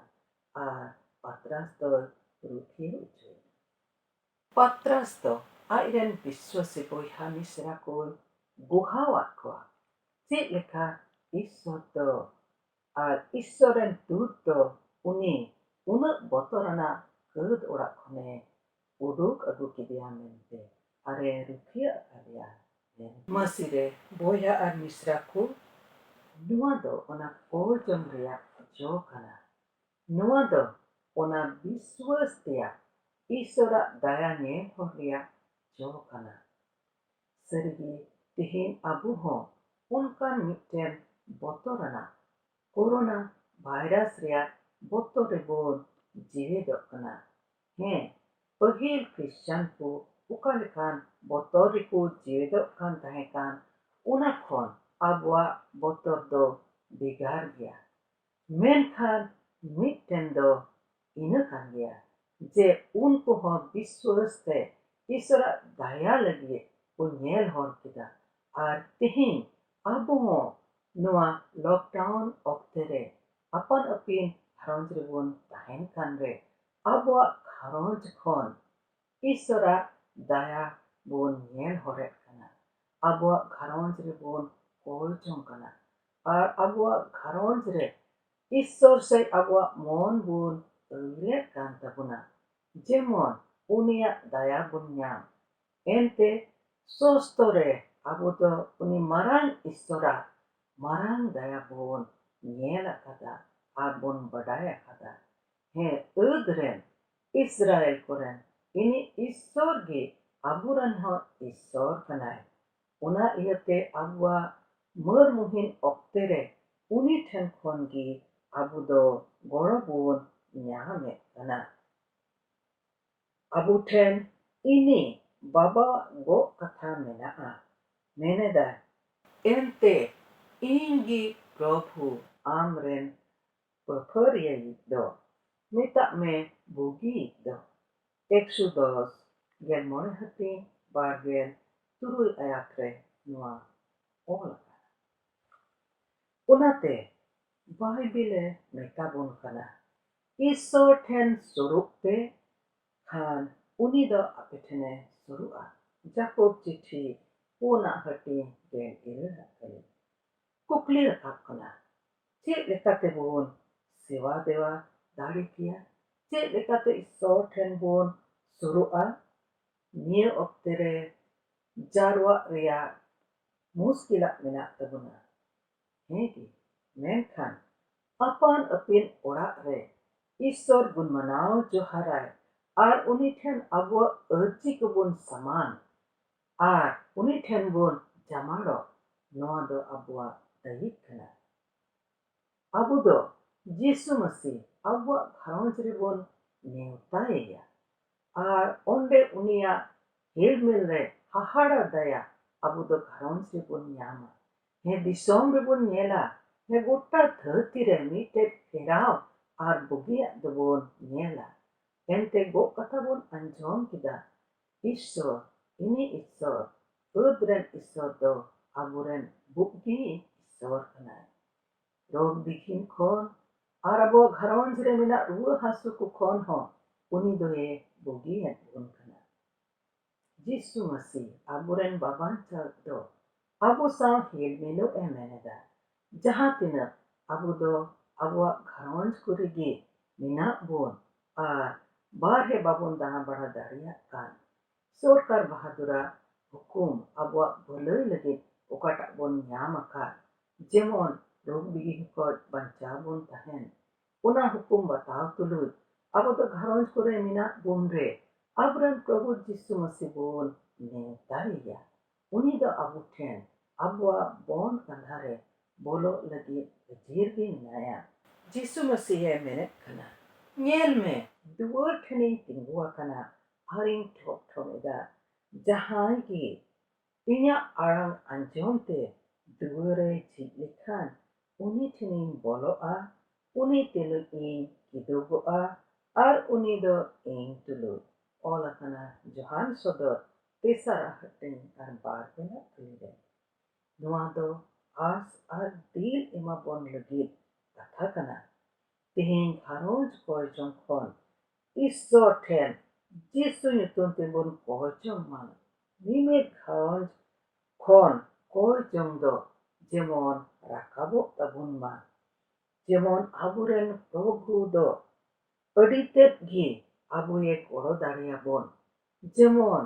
S1: ᱟᱨ ᱯᱟᱛᱨᱟᱥ ᱫᱚᱭ ᱨᱩᱠᱷᱤᱭᱟᱹ ᱚᱪᱚᱭᱮᱱᱟ ᱯᱟᱛᱨᱟᱥ ᱫᱚ ᱟᱡ ᱨᱮᱱ ᱵᱤᱥᱣᱟᱥᱤ ᱵᱚᱭᱦᱟ ᱢᱤᱥᱨᱟ ᱠᱚᱭ ᱵᱚᱦᱟᱣ ᱟᱫ ᱠᱚᱣᱟ᱾ ᱪᱮᱫ ᱞᱮᱠᱟ ᱤᱥᱣᱚᱨ ᱫᱚ ᱟᱨ ᱤᱥᱣᱚᱨ ᱨᱮᱱ ᱫᱩᱛ ᱫᱚ ᱩᱱᱤ ᱩᱱᱟᱹᱜ ᱵᱚᱛᱚᱨ ᱟᱱᱟᱜ ᱠᱟᱹᱫ ᱚᱲᱟᱜ ᱠᱷᱚᱱᱮ ᱩᱰᱩᱠ ᱟᱹᱜᱩ ᱠᱮᱫᱮᱭᱟ ᱢᱮᱱᱛᱮ ᱟᱨ ᱮ ᱨᱩᱠᱷᱤᱭᱟᱹ ᱟᱠᱟᱫᱮᱭᱟ ᱢᱮᱱᱛᱮ᱾ ᱢᱟᱹᱥᱤ ᱨᱮ ᱵᱚᱭᱦᱟ ᱟᱨ ᱢᱤᱥᱨᱟ ᱠᱚ, ᱱᱚᱶᱟ ᱫᱚ ᱚᱱᱟ ᱠᱚᱭ ᱡᱚᱢ ᱨᱮᱭᱟᱜ ᱡᱚ ᱠᱟᱱᱟ ᱱᱚᱣᱟ ᱫᱚ ᱚᱱᱟ ᱵᱤᱥᱣᱟᱹᱥ ᱛᱮᱭᱟᱜ ᱤᱥᱚᱨ ᱟᱜ ᱫᱟᱭᱟ ᱧᱮᱞ ᱦᱚᱨ ᱨᱮᱭᱟᱜ ᱡᱚ ᱠᱟᱱᱟ᱾ ᱥᱟᱹᱨᱤ ᱜᱮ ᱛᱮᱦᱮᱧ ᱟᱵᱚ ᱦᱚᱸ ᱚᱱᱠᱟᱱ ᱢᱤᱫᱴᱮᱱ ᱵᱚᱛᱚᱨ ᱟᱱᱟᱜ ᱠᱳᱨᱳᱱᱟ ᱵᱷᱟᱭᱨᱟᱥ ᱨᱮᱭᱟᱜ ᱵᱚᱛᱚᱨ ᱨᱮ ᱵᱚᱱ ᱡᱮᱣᱮᱫᱚᱜ ᱠᱟᱱᱟ᱾ ᱦᱮᱸ ᱯᱟᱹᱦᱤᱞ ᱠᱨᱤᱥᱪᱟᱱ ᱠᱚ ᱚᱠᱟ ᱞᱮᱠᱟᱱ ᱵᱚᱛᱚᱨ ᱨᱮ ᱠᱚ ᱡᱮᱣᱮᱫᱚᱜ ᱠᱟᱱ ᱛᱟᱦᱮᱸ ᱠᱟᱱ ᱚᱱᱟ ᱠᱷᱚᱱ ᱟᱵᱚᱣᱟᱜ ᱵᱚᱛᱚᱨ ᱫᱚ ᱵᱷᱮᱜᱟᱨ ᱜᱮᱭᱟ᱾ ᱢᱮᱱᱠᱷᱟᱱ ᱢᱤᱫᱴᱮᱱ ᱫᱚ ᱤᱱᱟᱹ ᱠᱟᱱ ᱜᱮᱭᱟ ᱡᱮ ᱩᱱᱠᱩ ᱦᱚᱸ ᱵᱤᱥᱣᱟᱹᱥ ᱛᱮ ᱤᱥᱚᱨᱟᱜ ᱫᱟᱭᱟ ᱞᱟᱹᱜᱤᱫ ᱠᱚ ᱧᱮᱞ ᱦᱚᱨ ᱠᱮᱫᱟ ᱟᱨ ᱛᱮᱦᱮᱧ ᱟᱵᱚ ᱦᱚᱸ ᱱᱚᱣᱟ ᱞᱚᱠᱰᱟᱣᱩᱱ ᱚᱠᱛᱮ ᱨᱮ ᱟᱯᱟᱱ ᱟᱹᱯᱤᱱ ᱜᱷᱟᱨᱚᱸᱡᱽ ᱨᱮᱵᱚᱱ ᱛᱟᱦᱮᱱ ᱠᱟᱱ ᱨᱮ ᱟᱵᱚᱣᱟᱜ ᱜᱷᱟᱨᱚᱸᱡᱽ ᱠᱷᱚᱱ ᱤᱥᱥᱚᱨᱟᱜ ᱫᱟᱭᱟ ᱵᱚᱱ ᱧᱮᱞ ᱦᱚᱨᱮᱫ ᱠᱟᱱᱟ, ᱟᱵᱚᱣᱟᱜ ᱜᱷᱟᱨᱚᱸᱡᱽ ᱨᱮ ᱵᱚᱱ ᱠᱚᱞ ᱡᱚᱝ ᱠᱟᱱᱟ ᱟᱨ ᱟᱵᱚᱣᱟᱜ ᱜᱷᱟᱨᱚᱸᱡᱽ ᱨᱮ ᱤᱥᱥᱚᱨ ᱥᱮᱡ ᱟᱵᱚᱣᱟᱜ ᱢᱚᱱ ᱵᱚᱱ ᱟᱹᱭᱩᱨᱮᱫ ᱠᱟᱱ ᱛᱟᱵᱚᱱᱟ ᱡᱮᱢᱚᱱ ᱩᱱᱤᱭᱟᱜ ᱫᱟᱭᱟ ᱵᱚᱱ ᱧᱟᱢ᱾ ᱮᱱᱛᱮ ᱥᱚᱥᱛᱚ ᱨᱮ ᱟᱵᱚ ᱫᱚ ᱩᱱᱤ ᱢᱟᱨᱟᱝ ᱤᱥᱥᱚᱨᱟᱜ ᱢᱟᱨᱟᱝ ᱫᱟᱭᱟ ᱵᱚᱱ ᱧᱮᱞ ᱟᱠᱟᱫᱟ ᱟᱨ ᱵᱚᱱ ᱵᱟᱰᱟᱭ ᱟᱠᱟᱫᱟ᱾ ᱦᱮᱸ, ᱟᱹᱫᱽ ᱨᱮᱱ᱾ ᱤᱥᱨᱟᱭᱮᱞ ᱠᱚᱨᱮᱱ ᱤᱱᱤᱡ ᱤᱥᱥᱚᱨ ᱜᱮ ᱟᱵᱚ ᱨᱮᱱ ᱦᱚᱸ ᱤᱥᱥᱚᱨ ᱠᱟᱱᱟᱭ᱾ ᱚᱱᱟ ᱤᱭᱟᱹᱛᱮ ᱟᱵᱚᱣᱟᱜ ᱢᱟᱹᱨ ᱢᱩᱦᱤᱱ ᱚᱠᱛᱮ ᱨᱮ ᱩᱱᱤ ᱴᱷᱮᱱ ᱠᱷᱚᱱ ᱜᱮ ᱟᱵᱚ ᱫᱚ ᱜᱚᱲᱚ ᱵᱚᱱ ᱧᱟᱢ ᱮᱫ ᱠᱟᱱᱟ᱾ ᱟᱵᱚ ᱴᱷᱮᱱ ᱤᱱᱤ ᱵᱟᱵᱟᱣᱟᱜ ᱜᱚᱜ ᱠᱟᱛᱷᱟ ᱢᱮᱱᱟᱜᱼᱟ᱾ ᱢᱮᱱ ᱮᱫᱟᱭ᱾ ᱮᱱᱛᱮ ᱤᱧ ᱜᱮ ᱯᱨᱚᱵᱷᱩ ᱟᱢ ᱨᱮᱱ ᱯᱟᱹᱯᱷᱟᱹᱨᱤᱭᱟᱹᱭᱤᱡ ᱫᱚ ᱢᱮᱛᱟᱜ ᱢᱮ ᱵᱩᱜᱤᱭᱤᱡ ᱫᱚ᱾ ᱮᱠᱥᱩᱫᱚᱥ ᱜᱮᱞ ᱢᱚᱬᱮ ᱦᱟᱹᱴᱤᱧ ᱵᱟᱨ ᱜᱮᱞ ᱛᱩᱨᱩᱭ ᱟᱭᱟᱛ ᱨᱮ ᱱᱚᱣᱟ ᱚᱞ ᱟᱠᱟᱱᱟ᱾ ᱚᱱᱟᱛᱮ ᱵᱟᱭᱵᱤᱞ ᱮ ᱢᱮᱛᱟ ᱵᱚᱱ ᱠᱟᱱᱟ, ᱤᱥᱥᱚᱨ ᱴᱷᱮᱱ ᱥᱳᱨᱳᱜ ᱯᱮ, ᱠᱷᱟᱱ ᱩᱱᱤ ᱫᱚ ᱟᱯᱮ ᱴᱷᱮᱱ ᱮ ᱥᱳᱨᱳᱜᱼᱟ᱾ ᱡᱟᱠᱚᱵᱽ ᱪᱤᱴᱷᱤ ᱯᱳᱱ ᱟᱜ ᱦᱟᱹᱴᱤᱧ ᱜᱮᱞ ᱤᱨᱟᱹᱞ ᱟᱜ ᱠᱟᱹᱢᱤ᱾ ᱠᱩᱠᱞᱤ ᱨᱟᱠᱟᱵ ᱠᱟᱱᱟ ᱪᱮᱫ ᱞᱮᱠᱟᱛᱮ ᱵᱚᱱ ᱥᱮᱵᱟ ᱫᱮᱣᱟ ᱫᱟᱲᱮ ᱠᱮᱭᱟ ᱪᱮᱫ ᱞᱮᱠᱟᱛᱮ ᱤᱥᱥᱚᱨ ᱴᱷᱮᱱ ᱵᱚᱱ ᱥᱩᱨᱩᱜᱼᱟ ᱱᱤᱭᱟᱹ ᱚᱠᱛᱮ ᱨᱮ ᱡᱟᱨᱣᱟᱜ ᱨᱮᱭᱟᱜ ᱢᱩᱥᱠᱤᱞᱟᱜ ᱢᱮᱱᱟᱜ ᱛᱟᱵᱚᱱᱟ ᱦᱮᱸ ᱜᱮ ᱢᱮᱱᱠᱷᱟᱱ ᱟᱯᱟᱱ ᱟᱹᱯᱤᱱ ᱚᱲᱟᱜ ᱨᱮ ᱤᱥᱥᱚᱨ ᱵᱚᱱ ᱢᱟᱱᱟᱣ ᱡᱚᱦᱟᱨᱟᱭ ᱟᱨ ᱩᱱᱤ ᱴᱷᱮᱱ ᱟᱵᱚᱣᱟᱜ ᱟᱹᱨᱡᱤ ᱠᱚᱵᱚᱱ ᱥᱟᱢᱟᱝ ᱟᱨ ᱩᱱᱤ ᱴᱷᱮᱱ ᱵᱚᱱ ᱡᱟᱢᱟᱲᱚᱜ ᱱᱚᱶᱟ ᱫᱚ ᱟᱵᱚᱣᱟᱜ ᱫᱟᱹᱭᱤᱠ ᱠᱟᱱᱟ᱾ ᱟᱵᱚ ᱫᱚ ᱡᱤᱥᱩ ᱢᱟᱹᱥᱤ ᱟᱵᱚᱣᱟᱜ ᱜᱷᱟᱨᱚᱸᱡᱽ ᱨᱮ ᱵᱚᱱ ᱱᱮᱣᱛᱟ ᱮᱭᱟ ᱟᱨ ᱚᱱᱰᱮ ᱩᱱᱤᱭᱟᱜ ᱦᱮᱞᱢᱮᱞ ᱨᱮ ᱦᱟᱦᱟᱲᱟ ᱫᱟᱭᱟ ᱟᱵᱚ ᱫᱚ ᱜᱷᱟᱨᱚᱸᱡᱽ ᱨᱮ ᱵᱚᱱ ᱧᱟᱢᱟ᱾ ᱦᱮᱸ ᱫᱤᱥᱚᱢ ᱨᱮ ᱵᱚᱱ ᱧᱮᱞᱟ ᱦᱮᱸ ᱜᱚᱴᱟ ᱫᱷᱟᱹᱨᱛᱤ ᱨᱮ ᱢᱤᱫᱴᱮᱡ ᱯᱷᱮᱨᱟᱣ ᱟᱨ ᱵᱩᱜᱤᱭᱟᱜ ᱫᱚ ᱵᱚᱱ ᱧᱮᱞᱟ᱾ ᱮᱱᱛᱮ ᱜᱚᱜ ᱠᱟᱛᱷᱟ ᱵᱚᱱ ᱟᱸᱡᱚᱢ ᱠᱮᱫᱟ᱾ ᱤᱥᱥᱚ ᱤᱱᱤ ᱤᱥᱥᱚᱨ ᱯᱷᱟᱹᱫᱽ ᱨᱮᱱ ᱤᱥᱥᱚᱨ ᱫᱚ ᱟᱵᱚ ᱨᱮᱱ ᱵᱩᱜᱜᱤ ᱤᱥᱥᱚᱨ ᱠᱟᱱᱟᱭ᱾ ᱨᱳᱜᱽ ᱵᱤᱜᱷᱤᱱ ᱠᱷᱚᱱ ᱟᱨ ᱟᱵᱚᱣᱟᱜ ᱜᱷᱟᱨᱚᱸᱡᱽ ᱨᱮ ᱢᱮᱱᱟᱜ ᱨᱩᱣᱟᱹ ᱦᱟᱹᱥᱩ ᱠᱚ ᱠᱷᱚᱱ ᱦᱚᱸ ᱩᱱᱤ ᱫᱚᱭᱮ ᱵᱩᱜᱤᱭᱮᱫ ᱵᱚᱱ ᱠᱟᱱᱟ᱾ ᱡᱤᱥᱩ ᱢᱟᱹᱥᱤ ᱟᱵᱚ ᱨᱮᱱ ᱵᱟᱵᱟᱧᱪᱟᱣᱤᱡ ᱫᱚ ᱟᱵᱚ ᱥᱟᱶ ᱦᱤᱞ ᱢᱤᱞᱚ ᱮ ᱢᱮᱱ ᱮᱫᱟ᱾ ᱡᱟᱦᱟᱸ ᱛᱤᱱᱟᱹᱜ ᱟᱵᱚ ᱫᱚ ᱟᱵᱚᱣᱟᱜ ᱜᱷᱟᱨᱚᱸᱡᱽ ᱠᱚᱨᱮ ᱜᱮ ᱢᱮᱱᱟᱜ ᱵᱚᱱ ᱟᱨ ᱵᱟᱨᱦᱮ ᱵᱟᱵᱚᱱ ᱫᱟᱬᱟ ᱵᱟᱲᱟ ᱫᱟᱲᱮᱭᱟᱜ ᱠᱟᱱ, ᱥᱚᱨᱠᱟᱨ ᱵᱟᱦᱟᱫᱩᱨᱟᱜ ᱦᱩᱠᱩᱢ ᱟᱵᱚᱣᱟᱜ ᱵᱷᱟᱹᱞᱟᱹᱭ ᱞᱟᱹᱜᱤᱫ ᱚᱠᱟᱴᱟᱜ ᱵᱚᱱ ᱧᱟᱢ ᱟᱠᱟᱫ, ᱡᱮᱢᱚᱱ ᱨᱳᱜᱽ ᱵᱤᱜᱷᱤᱱ ᱠᱷᱚᱱ ᱵᱟᱧᱪᱟᱣ ᱵᱚᱱ ᱛᱟᱦᱮᱸᱱ, ᱚᱱᱟ ᱦᱩᱠᱩᱢ ᱵᱟᱛᱟᱣ ᱛᱩᱞᱩᱡ ᱟᱵᱚ ᱫᱚ ᱜᱷᱟᱨᱚᱸᱡᱽ ᱠᱚᱨᱮ ᱢᱮᱱᱟᱜ ᱵᱚᱱ ᱨᱮ ᱟᱵᱚ ᱨᱮᱱ ᱯᱨᱚᱵᱷᱩ ᱡᱤᱥᱩ ᱢᱟᱹᱥᱤ ᱵᱚᱱ ᱱᱮᱣᱛᱟᱭᱮᱭᱟ᱾ ᱩᱱᱤ ᱫᱚ ᱟᱵᱚ ᱴᱷᱮᱱ ᱟᱵᱚᱣᱟᱜ ᱵᱚᱱ ᱠᱟᱸᱫᱷᱟ ᱨᱮ ᱵᱚᱞᱚᱜ ᱞᱟᱹᱜᱤᱫ ᱦᱟᱹᱡᱤᱨ ᱜᱮ ᱢᱮᱱᱟᱭᱟ᱾ ᱡᱤᱥᱩ ᱢᱟᱹᱥᱤᱦ ᱮ ᱢᱮᱱᱮᱫ ᱠᱟᱱᱟ, ᱧᱮᱞ ᱢᱮ! ᱫᱩᱣᱟᱹᱨ ᱴᱷᱮᱱᱤᱧ ᱛᱤᱸᱜᱩ ᱟᱠᱟᱱᱟ ᱟᱨᱤᱧ ᱴᱷᱚᱜ ᱴᱷᱚᱜ ᱮᱫᱟ᱾ ᱡᱟᱦᱟᱸᱭ ᱜᱮ ᱤᱧᱟᱜ ᱟᱲᱟᱝ ᱟᱸᱡᱚᱢ ᱛᱮ ᱫᱩᱣᱟᱹᱨ ᱮ ᱡᱷᱤᱡ ᱞᱮᱠᱷᱟᱱ ᱩᱱᱤ ᱴᱷᱮᱱᱤᱧ ᱵᱚᱞᱚᱜᱼᱟ ᱩᱱᱤ ᱛᱩᱞᱩᱡ ᱤᱧ ᱠᱤᱫᱩᱵᱚᱜᱼᱟ ᱟᱨ ᱩᱱᱤ ᱫᱚ ᱤᱧ ᱛᱩᱞᱩᱡ᱾ ᱚᱞ ᱟᱠᱟᱱᱟ ᱡᱚᱦᱟᱱ ᱥᱚᱫᱚᱨ ᱛᱮᱥᱟᱨᱟᱜ ᱦᱟᱹᱴᱤᱧ ᱟᱨ ᱵᱟᱨ ᱜᱮᱞ ᱟᱜ ᱠᱟᱹᱞᱤ ᱨᱮ᱾ ᱱᱚᱶᱟ ᱫᱚ ᱟᱸᱥ ᱟᱨ ᱫᱤᱞ ᱮᱢᱟ ᱵᱚᱱ ᱞᱟᱹᱜᱤᱫ ᱠᱟᱛᱷᱟ ᱠᱟᱱᱟ᱾ ᱛᱮᱦᱮᱧ ᱜᱷᱟᱨᱚᱸᱡᱽ ᱠᱚᱭ ᱡᱚᱝ ᱠᱷᱚᱱ ᱤᱥᱥᱚᱨ ᱴᱷᱮᱱ ᱡᱤᱥᱩ ᱧᱩᱛᱩᱢ ᱛᱮᱵᱚᱱ ᱠᱚᱭ ᱡᱚᱝ ᱢᱟ᱾ ᱢᱤᱢᱤᱫ ᱜᱷᱟᱨᱚᱸᱡᱽ ᱠᱷᱚᱱ ᱠᱚᱭ ᱡᱚᱝ ᱫᱚ ᱡᱮᱢᱚᱱ ᱨᱟᱠᱟᱵᱚᱜ ᱛᱟᱵᱚᱱ ᱢᱟ᱾ ᱡᱮᱢᱚᱱ ᱟᱵᱚ ᱨᱮᱱ ᱯᱨᱚᱵᱷᱩ ᱫᱚ ᱟᱹᱰᱤ ᱛᱮᱫ ᱜᱮ ᱟᱵᱚᱭᱮ ᱜᱚᱲᱚ ᱫᱟᱲᱮᱭᱟᱵᱚᱱ᱾ ᱡᱮᱢᱚᱱ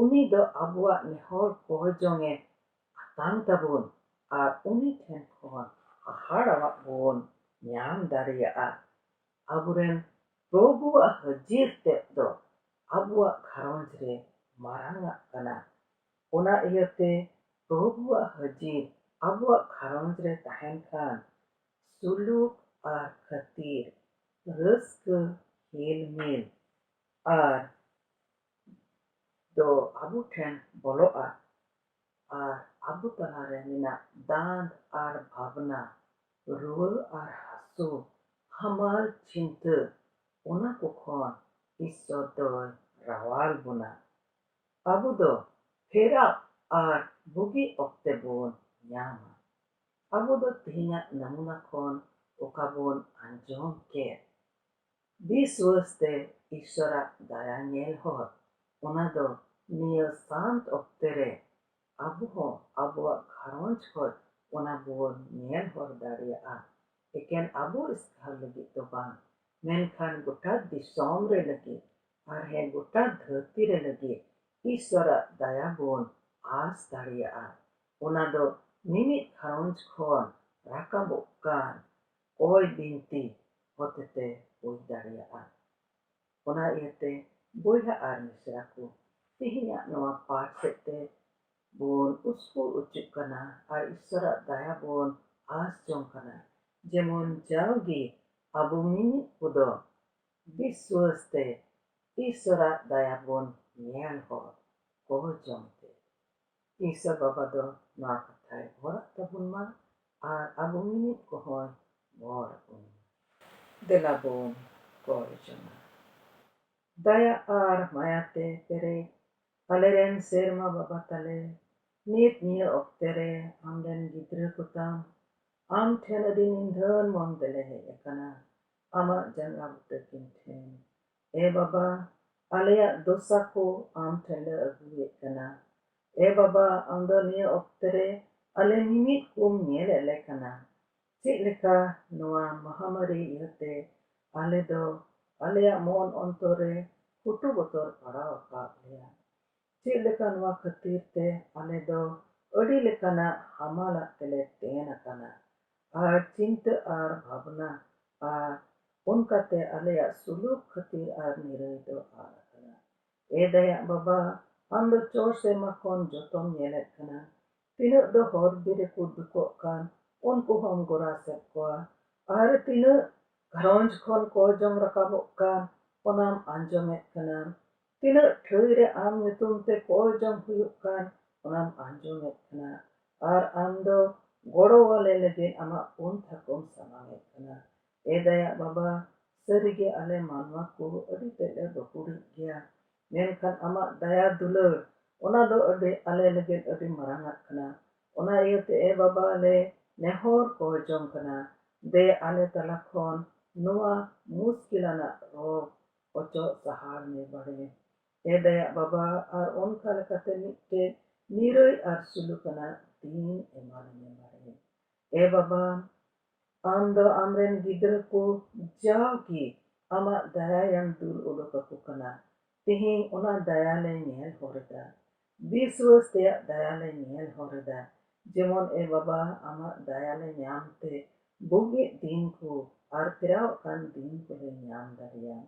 S1: ᱩᱱᱤ ᱫᱚ ᱟᱵᱚᱣᱟᱜ ᱱᱮᱦᱚᱨ ᱠᱚᱭ ᱡᱚᱝ ᱮ ᱟᱛᱟᱝ ᱛᱟᱵᱚᱱ ᱟᱨ ᱩᱱᱤ ᱴᱷᱮᱱ ᱠᱷᱚᱱ ᱦᱟᱦᱟᱲᱟᱣᱟᱜ ᱵᱚᱱ ᱧᱟᱢ ᱫᱟᱲᱮᱭᱟᱜᱼᱟ᱾ ᱟᱵᱚ ᱨᱮᱱ ᱯᱨᱚᱵᱷᱩᱣᱟᱜ ᱦᱟᱹᱡᱤᱨ ᱛᱮᱫ ᱫᱚ ᱟᱵᱚᱣᱟᱜ ᱜᱷᱟᱨᱚᱸᱡᱽ ᱨᱮ ᱢᱟᱨᱟᱝ ᱟᱜ ᱠᱟᱱᱟ᱾ ᱚᱱᱟ ᱤᱭᱟᱹᱛᱮ ᱯᱨᱚᱵᱷᱩᱣᱟᱜ ᱦᱟᱹᱡᱤᱨ ᱟᱵᱚᱣᱟᱜ ᱜᱷᱟᱨᱚᱸᱡᱽ ᱨᱮ ᱛᱟᱦᱮᱸᱱ ᱠᱷᱟᱱ ᱥᱩᱞᱩᱠ ᱟᱨ ᱠᱷᱟᱹᱛᱤᱨ, ᱨᱟᱹᱥᱠᱟᱹ, ᱦᱤᱞᱢᱤᱞ ᱟᱨ ᱫᱚ ᱟᱵᱚ ᱴᱷᱮᱱ ᱵᱚᱞᱚᱜᱼᱟ ᱟᱨ ᱟᱵᱚ ᱛᱟᱞᱟ ᱨᱮ ᱢᱮᱱᱟᱜ ᱫᱟᱸᱫᱽ ᱟᱨ ᱵᱷᱟᱵᱽᱱᱟ, ᱨᱩᱣᱟᱹ ᱟᱨ ᱦᱟᱹᱥᱩ, ᱦᱟᱢᱟᱞ ᱪᱤᱱᱛᱟᱹ ᱚᱱᱟ ᱠᱚ ᱠᱷᱚᱱ ᱤᱥᱥᱚᱨ ᱫᱚᱭ ᱨᱟᱣᱟᱞ ᱵᱚᱱᱟ᱾ ᱟᱵᱚ ᱫᱚ ᱯᱷᱮᱨᱟᱣ ᱟᱨ ᱵᱩᱜᱤ ᱚᱠᱛᱮ ᱵᱚᱱ ᱧᱟᱢᱟ᱾ ᱟᱵᱚ ᱫᱚ ᱛᱮᱦᱮᱧᱟᱜ ᱱᱟᱢᱩᱱᱟ ᱠᱷᱚᱱ ᱚᱠᱟ ᱵᱚᱱ ᱟᱸᱡᱚᱢ ᱠᱮᱫ ᱵᱤᱥᱣᱟᱹᱥ ᱛᱮ ᱤᱥᱥᱚᱨᱟᱜ ᱫᱟᱭᱟ ᱧᱮᱞ ᱦᱚᱨ, ᱚᱱᱟ ᱫᱚ ᱱᱤᱭᱟᱹ ᱥᱟᱱᱛ ᱚᱠᱛᱮ ᱨᱮ ᱟᱵᱚ ᱦᱚᱸ ᱟᱵᱚᱣᱟᱜ ᱜᱷᱟᱨᱚᱸᱡᱽ ᱠᱷᱚᱡ ᱚᱱᱟ ᱵᱚᱱ ᱧᱮᱞ ᱦᱚᱨ ᱫᱟᱲᱮᱭᱟᱜᱼᱟ᱾ ᱮᱠᱮᱱ ᱟᱵᱚ ᱮᱥᱠᱟᱨ ᱞᱟᱹᱜᱤᱫ ᱫᱚ ᱵᱟᱝ, ᱢᱮᱱᱠᱷᱟᱱ ᱜᱚᱴᱟ ᱫᱤᱥᱚᱢ ᱨᱮ ᱞᱟᱹᱜᱤᱫ ᱟᱨ ᱦᱮᱸ ᱜᱚᱴᱟ ᱫᱷᱟᱹᱨᱛᱤ ᱨᱮ ᱞᱟᱹᱜᱤᱫ ᱤᱥᱣᱚᱨᱟᱜ ᱫᱟᱭᱟ ᱵᱚᱱ ᱟᱸᱥ ᱫᱟᱲᱮᱭᱟᱜᱼᱟ᱾ ᱚᱱᱟ ᱫᱚ ᱢᱤᱢᱤᱫ ᱜᱷᱟᱨᱚᱸᱡᱽ ᱠᱷᱚᱱ ᱨᱟᱠᱟᱵᱚᱜ ᱠᱟᱱ ᱠᱚᱭ ᱵᱤᱱᱛᱤ ᱦᱚᱛᱮᱛᱮ ᱦᱩᱭ ᱫᱟᱲᱮᱭᱟᱜᱼᱟ᱾ ᱚᱱᱟ ᱤᱭᱟᱹᱛᱮ ᱵᱚᱭᱦᱟ ᱟᱨ ᱢᱤᱥᱨᱟ ᱠᱚ, ᱛᱮᱦᱮᱧᱟᱜ ᱱᱚᱶᱟ ᱯᱟᱴᱷ ᱥᱮᱫ ᱛᱮ ᱵᱚᱱ ᱩᱥᱠᱩᱨ ᱚᱪᱚᱜ ᱠᱟᱱᱟ ᱟᱨ ᱤᱥᱣᱚᱨᱟᱜ ᱫᱟᱭᱟ ᱵᱚᱱ ᱟᱸᱥ ᱡᱚᱝ ᱠᱟᱱᱟ᱾ ᱡᱮᱢᱚᱱ ᱡᱟᱣᱜᱮ ᱟᱵᱚ ᱢᱤᱢᱤᱫ ᱠᱚᱫᱚ ᱫᱤ ᱥᱩᱣᱟᱹᱥ ᱛᱮ ᱤᱥᱚᱨᱟᱜ ᱫᱟᱭᱟ ᱵᱚᱱ ᱧᱮᱞ ᱦᱚᱲ ᱠᱚ ᱡᱚᱢ ᱛᱮ᱾ ᱤᱥᱚᱨ ᱵᱟᱵᱟ ᱫᱚ ᱱᱚᱣᱟ ᱠᱟᱛᱷᱟᱭ ᱵᱷᱚᱨᱟᱜ ᱛᱟᱵᱚᱱ ᱢᱟ ᱟᱨ ᱟᱵᱚ ᱢᱤᱢᱤᱫ ᱠᱚ ᱦᱚᱸᱭ ᱵᱷᱚᱨ ᱟᱵᱚᱱ ᱢᱟ᱾ ᱫᱮᱞᱟ ᱵᱚᱱ ᱠᱚᱭ ᱡᱚᱝᱟ ᱫᱟᱭᱟ ᱟᱨ ᱢᱟᱭᱟ ᱛᱮ ᱯᱮᱨᱮᱡ ᱟᱞᱮ ᱨᱮᱱ ᱥᱮᱨᱢᱟ ᱵᱟᱵᱟ ᱛᱟᱞᱮ᱾ ᱱᱤᱛ ᱱᱤᱭᱟᱹ ᱚᱠᱛᱮ ᱨᱮ ᱟᱢ ᱨᱮᱱ ᱜᱤᱫᱽᱨᱟᱹ ᱠᱚ ᱛᱟᱢ ᱟᱢ ᱴᱷᱮᱱ ᱟᱹᱰᱤ ᱱᱤᱫᱷᱟᱹᱱ ᱢᱚᱱ ᱛᱮᱞᱮ ᱦᱮᱡ ᱟᱠᱟᱱᱟ᱾ ᱟᱢᱟᱜ ᱡᱟᱸᱜᱟ ᱵᱩᱴᱟᱹ ᱠᱤᱱ ᱴᱷᱮᱱ᱾ ᱮ ᱵᱟᱵᱟ, ᱟᱞᱮᱭᱟᱜ ᱫᱳᱥᱟ ᱠᱚ ᱟᱢ ᱴᱷᱮᱱ ᱞᱮ ᱟᱹᱜᱩᱭᱮᱫ ᱠᱟᱱᱟ᱾ ᱮ ᱵᱟᱵᱟ, ᱟᱢ ᱫᱚ ᱱᱤᱭᱟᱹ ᱚᱠᱛᱮ ᱨᱮ ᱟᱞᱮ ᱢᱤᱢᱤᱫ ᱠᱚᱢ ᱧᱮᱞᱮᱫ ᱞᱮ ᱠᱟᱱᱟ᱾ ᱪᱮᱫ ᱞᱮᱠᱟ ᱱᱚᱣᱟ ᱢᱟᱦᱟᱢᱟᱹᱨᱤ ᱤᱭᱟᱹᱛᱮ ᱟᱞᱮ ᱫᱚ ᱟᱞᱮᱭᱟᱜ ᱢᱚᱱ ᱚᱱᱛᱚᱨ ᱨᱮ ᱠᱩᱴᱩ ᱵᱚᱛᱚᱨ ᱯᱟᱲᱟᱣ ᱟᱠᱟᱫ ᱞᱮᱭᱟ᱾ ᱪᱮᱫ ᱞᱮᱠᱟ ᱱᱚᱣᱟ ᱠᱷᱟᱹᱛᱤᱨ ᱛᱮ ᱟᱞᱮ ᱫᱚ ᱟᱹᱰᱤ ᱞᱮᱠᱟᱱᱟᱜ ᱦᱟᱢᱟᱞᱟᱜ ᱛᱮᱞᱮ ᱛᱮᱱ ᱟᱠᱟᱱᱟ ᱟᱨ ᱪᱤᱱᱛᱟᱹ ᱟᱨ ᱵᱷᱟᱵᱽᱱᱟ ᱟᱨ ᱚᱱᱠᱟ ᱛᱮ ᱟᱞᱮᱭᱟᱜ ᱥᱩᱞᱩᱠ ᱠᱷᱟᱹᱛᱤᱨ ᱟᱨ ᱱᱤᱨᱟᱹᱭ ᱫᱚ ᱟᱫ ᱟᱠᱟᱱᱟ᱾ ᱮ ᱫᱟᱭᱟᱜ ᱵᱟᱵᱟ, ᱟᱢ ᱫᱚ ᱪᱚᱴ ᱥᱮ ᱢᱟᱠᱚᱱ ᱡᱚᱛᱚᱢ ᱧᱮᱞᱮᱫ ᱠᱟᱱᱟ᱾ ᱛᱤᱱᱟᱹᱜ ᱫᱚ ᱦᱚᱨ ᱵᱤᱨ ᱨᱮᱠᱚ ᱫᱩᱠᱚᱜ ᱠᱟᱱ ᱩᱱᱠᱩ ᱦᱚᱸᱢ ᱜᱚᱨᱟᱥᱮᱫ ᱠᱚᱣᱟ ᱟᱨ ᱛᱤᱱᱟᱹᱜ ᱜᱷᱟᱨᱚᱸᱡᱽ ᱠᱷᱚᱱ ᱠᱚ ᱡᱚᱢ ᱨᱟᱠᱟᱵᱚᱜ ᱠᱟᱱ ᱚᱱᱟᱢ ᱟᱸᱡᱚᱢᱮᱫ ᱠᱟᱱᱟ᱾ ᱛᱤᱱᱟᱹᱜ ᱴᱷᱟᱹᱭ ᱨᱮ ᱟᱢ ᱧᱩᱛᱩᱢ ᱛᱮ ᱠᱚᱭ ᱡᱚᱝ ᱦᱩᱭᱩᱜ ᱠᱟᱱ ᱚᱱᱟᱢ ᱟᱸᱡᱚᱢᱮᱫ ᱠᱟᱱᱟ ᱟᱨ ᱟᱢ ᱫᱚ ᱜᱚᱲᱚ ᱟᱞᱮ ᱞᱟᱹᱜᱤᱫ ᱟᱢᱟᱜ ᱯᱚᱱᱛᱷᱟ ᱠᱚᱢ ᱥᱟᱢᱟᱝᱮᱫ ᱠᱟᱱᱟ᱾ ᱮ ᱫᱟᱭᱟᱜ ᱵᱟᱵᱟ, ᱥᱟᱹᱨᱤ ᱜᱮ ᱟᱞᱮ ᱢᱟᱱᱣᱟ ᱠᱚ ᱟᱹᱰᱤ ᱛᱮᱫ ᱞᱮ ᱜᱟᱹᱠᱷᱩᱲᱤᱡ ᱜᱮᱭᱟ, ᱢᱮᱱᱠᱷᱟᱱ ᱟᱢᱟᱜ ᱫᱟᱭᱟ ᱫᱩᱞᱟᱹᱲ ᱚᱱᱟ ᱫᱚ ᱟᱹᱰᱤ ᱟᱞᱮ ᱞᱟᱹᱜᱤᱫ ᱟᱹᱰᱤ ᱢᱟᱨᱟᱝᱟᱜ ᱠᱟᱱᱟ᱾ ᱚᱱᱟ ᱤᱭᱟᱹ ᱛᱮ ᱮ ᱵᱟᱵᱟ ᱞᱮ ᱱᱮᱦᱚᱨ ᱠᱚᱭ ᱡᱚᱝ ᱠᱟᱱᱟ, ᱫᱮ ᱟᱞᱮ ᱛᱟᱞᱟ ᱠᱷᱚᱱ ᱱᱚᱶᱟ ᱢᱩᱥᱠᱤᱞᱟᱱᱟᱜ ᱨᱳᱜᱽ ᱚᱪᱚᱜ ᱥᱟᱦᱟᱲ ᱢᱮ ᱵᱟᱲᱮ ᱮ ᱫᱟᱭᱟᱜ ᱵᱟᱵᱟ ᱟᱨ ᱚᱱᱠᱟ ᱞᱮᱠᱟᱛᱮ ᱢᱤᱫᱴᱮᱡ ᱱᱤᱨᱟᱹᱭ ᱟᱨ ᱥᱩᱞᱩᱠ ᱟᱱᱟᱜ ᱫᱤᱱ ᱮᱢᱟᱞᱮ ᱢᱮ ᱵᱟᱲᱮ ᱮ ᱵᱟᱵᱟ ᱟᱢ ᱫᱚ ᱟᱢᱨᱮᱱ ᱜᱤᱫᱽᱨᱟᱹ ᱠᱚ ᱡᱟᱣᱜᱮ ᱟᱢᱟᱜ ᱫᱟᱭᱟᱭᱮᱢ ᱫᱩᱞ ᱩᱰᱩᱠ ᱟᱠᱚ ᱠᱟᱱᱟ ᱛᱮᱦᱮᱧ ᱚᱱᱟ ᱫᱟᱭᱟ ᱞᱮ ᱧᱮᱞ ᱦᱚᱨ ᱮᱫᱟ ᱵᱤᱥᱣᱟᱹᱥ ᱛᱮᱭᱟᱜ ᱫᱟᱭᱟ ᱞᱮ ᱧᱮᱞ ᱦᱚᱨ ᱮᱫᱟ, ᱡᱮᱢᱚᱱ ᱮ ᱵᱟᱵᱟ ᱟᱢᱟᱜ ᱫᱟᱭᱟ ᱞᱮ ᱧᱟᱢ ᱛᱮ ᱵᱩᱜᱤᱜ ᱫᱤᱱ ᱠᱚ ᱟᱨ ᱯᱷᱮᱨᱟᱣᱜ ᱠᱟᱱ ᱫᱤᱱ ᱠᱚ ᱞᱮ ᱧᱟᱢ ᱫᱟᱲᱮᱭᱟᱜ᱾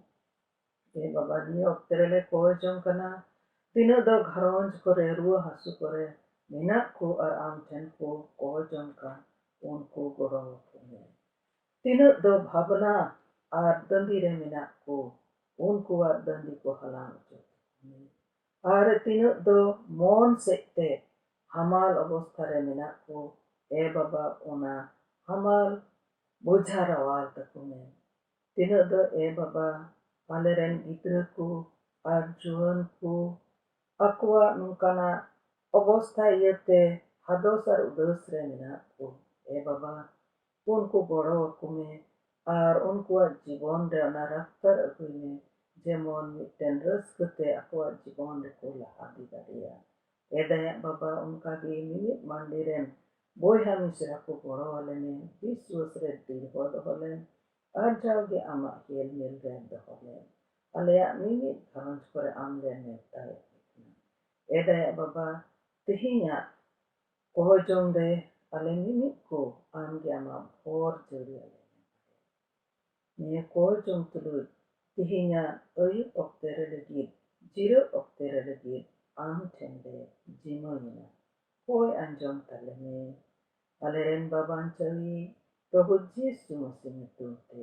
S1: ᱮ ᱵᱟᱵᱟ ᱱᱤᱭᱟᱹ ᱚᱠᱛᱮ ᱨᱮ ᱞᱮ ᱠᱚᱭ ᱡᱚᱝ ᱠᱟᱱᱟ ᱛᱤᱱᱟᱹᱜ ᱫᱚ ᱜᱷᱟᱨᱚᱸᱡᱽ ᱠᱚ ᱨᱮ ᱨᱩᱣᱟᱹ ᱦᱟᱹᱥᱩ ᱠᱚ ᱨᱮ ᱢᱮᱱᱟᱜ ᱠᱚ ᱟᱨ ᱟᱢ ᱴᱷᱮᱱ ᱠᱚ ᱠᱚᱭ ᱡᱚᱝ ᱠᱟᱱ ᱩᱱᱠᱩ ᱜᱚᱲᱚ ᱟᱠᱚ ᱢᱮ᱾ ᱛᱤᱱᱟᱹᱜ ᱫᱚ ᱵᱷᱟᱵᱽᱱᱟ ᱟᱨ ᱫᱟᱹᱵᱤ ᱨᱮ ᱢᱮᱱᱟᱜ ᱠᱚ ᱩᱱᱠᱩᱣᱟᱜ ᱫᱟᱹᱵᱤ ᱠᱚ ᱦᱟᱞᱟᱝ ᱚᱪᱚ ᱠᱟᱠᱚ ᱢᱮ᱾ ᱟᱨ ᱛᱤᱱᱟᱹᱜ ᱫᱚ ᱢᱚᱱ ᱥᱮᱫ ᱛᱮ ᱦᱟᱢᱟᱞ ᱚᱵᱚᱥᱛᱷᱟ ᱨᱮ ᱢᱮᱱᱟᱜ ᱠᱚ ᱮ ᱵᱟᱵᱟ ᱚᱱᱟ ᱦᱟᱢᱟᱞ ᱵᱚᱡᱷᱟ ᱨᱟᱣᱟᱞ ᱛᱟᱠᱚ ᱢᱮ᱾ ᱛᱤᱱᱟᱹᱜ ᱫᱚ ᱮ ᱵᱟᱵᱟ ᱟᱞᱮ ᱨᱮᱱ ᱜᱤᱫᱽᱨᱟᱹ ᱠᱚ ᱟᱨ ᱡᱩᱣᱟᱹᱱ ᱠᱚ ᱟᱠᱚᱣᱟᱜ ᱱᱚᱝᱠᱟᱱᱟᱜ ᱚᱵᱚᱥᱛᱷᱟ ᱤᱭᱟᱹ ᱛᱮ ᱦᱟᱫᱚᱥ ᱟᱨ ᱩᱫᱟᱹᱥ ᱨᱮ ᱢᱮᱱᱟᱜ ᱠᱚ ᱮ ᱵᱟᱵᱟ ᱩᱱᱠᱩ ᱜᱚᱲᱚ ᱟᱠᱚ ᱢᱮ ᱟᱨ ᱩᱱᱠᱩᱣᱟᱜ ᱡᱤᱵᱚᱱ ᱨᱮ ᱚᱱᱟ ᱨᱟᱯᱛᱟᱨ ᱟᱹᱜᱩᱭ ᱢᱮ ᱡᱮᱢᱚᱱ ᱢᱤᱫᱴᱮᱱ ᱨᱟᱹᱥᱠᱟᱹ ᱛᱮ ᱟᱠᱚᱣᱟᱜ ᱡᱤᱵᱚᱱ ᱨᱮᱠᱚ ᱞᱟᱦᱟ ᱤᱫᱤ ᱫᱟᱲᱮᱭᱟᱜ᱾ ᱮ ᱫᱟᱭᱟᱜ ᱵᱟᱵᱟ, ᱚᱱᱠᱟ ᱜᱮ ᱢᱤᱢᱤᱫ ᱢᱟᱹᱱᱰᱤ ᱨᱮᱱ ᱵᱚᱭᱦᱟ ᱢᱤᱥᱨᱟ ᱠᱚ ᱜᱚᱲᱚ ᱟᱞᱮ ᱢᱮ, ᱵᱤᱥᱣᱟᱹᱥ ᱨᱮ ᱫᱤᱲᱦᱚ ᱫᱚᱦᱚ ᱞᱮᱢ ᱟᱨ ᱡᱟᱣ ᱜᱮ ᱟᱢᱟᱜ ᱦᱮᱞᱢᱮᱞ ᱨᱮ ᱫᱚᱦᱚ ᱞᱮᱢ᱾ ᱟᱞᱮᱭᱟᱜ ᱢᱤᱢᱤᱫ ᱜᱷᱟᱨᱚᱸᱡᱽ ᱠᱚᱨᱮ ᱟᱢ ᱞᱮ ᱱᱮᱣᱛᱟᱭᱮᱫ ᱢᱮ ᱠᱟᱱᱟ᱾ ᱮ ᱫᱟᱭᱟᱜ ᱵᱟᱵᱟ, ᱛᱮᱦᱮᱧᱟᱜ ᱚᱦᱚ ᱡᱚᱢ ᱨᱮ ᱟᱞᱮ ᱢᱤᱢᱤᱫ ᱠᱚ ᱟᱢ ᱜᱮ ᱟᱢᱟᱜ ᱵᱷᱚᱨ ᱡᱟᱹᱲᱤ ᱟᱞᱮ ᱢᱮ ᱵᱟᱨᱮ᱾ ᱱᱤᱭᱟᱹ ᱠᱚ ᱡᱚᱢ ᱛᱩᱞᱩᱡ ᱛᱤᱦᱤᱧᱟᱜ ᱟᱹᱭᱩᱵ ᱚᱠᱛᱮ ᱨᱮ ᱞᱟᱹᱜᱤᱫ ᱡᱤᱨᱟᱹᱜ ᱚᱠᱛᱮ ᱨᱮ ᱞᱟᱹᱜᱤᱫ ᱟᱢ ᱴᱷᱮᱱ ᱞᱮ ᱡᱤᱢᱟᱹ ᱭᱮᱱᱟ ᱠᱚᱭ ᱟᱸᱡᱚᱢ ᱛᱟᱞᱮ ᱢᱮ ᱟᱞᱮ ᱨᱮᱱ ᱵᱟᱵᱟᱧᱪᱟᱣᱤᱡ ᱯᱨᱚᱵᱷᱩ ᱡᱤᱥᱩ ᱢᱟᱹᱥᱤ ᱧᱩᱛᱩᱢ ᱛᱮ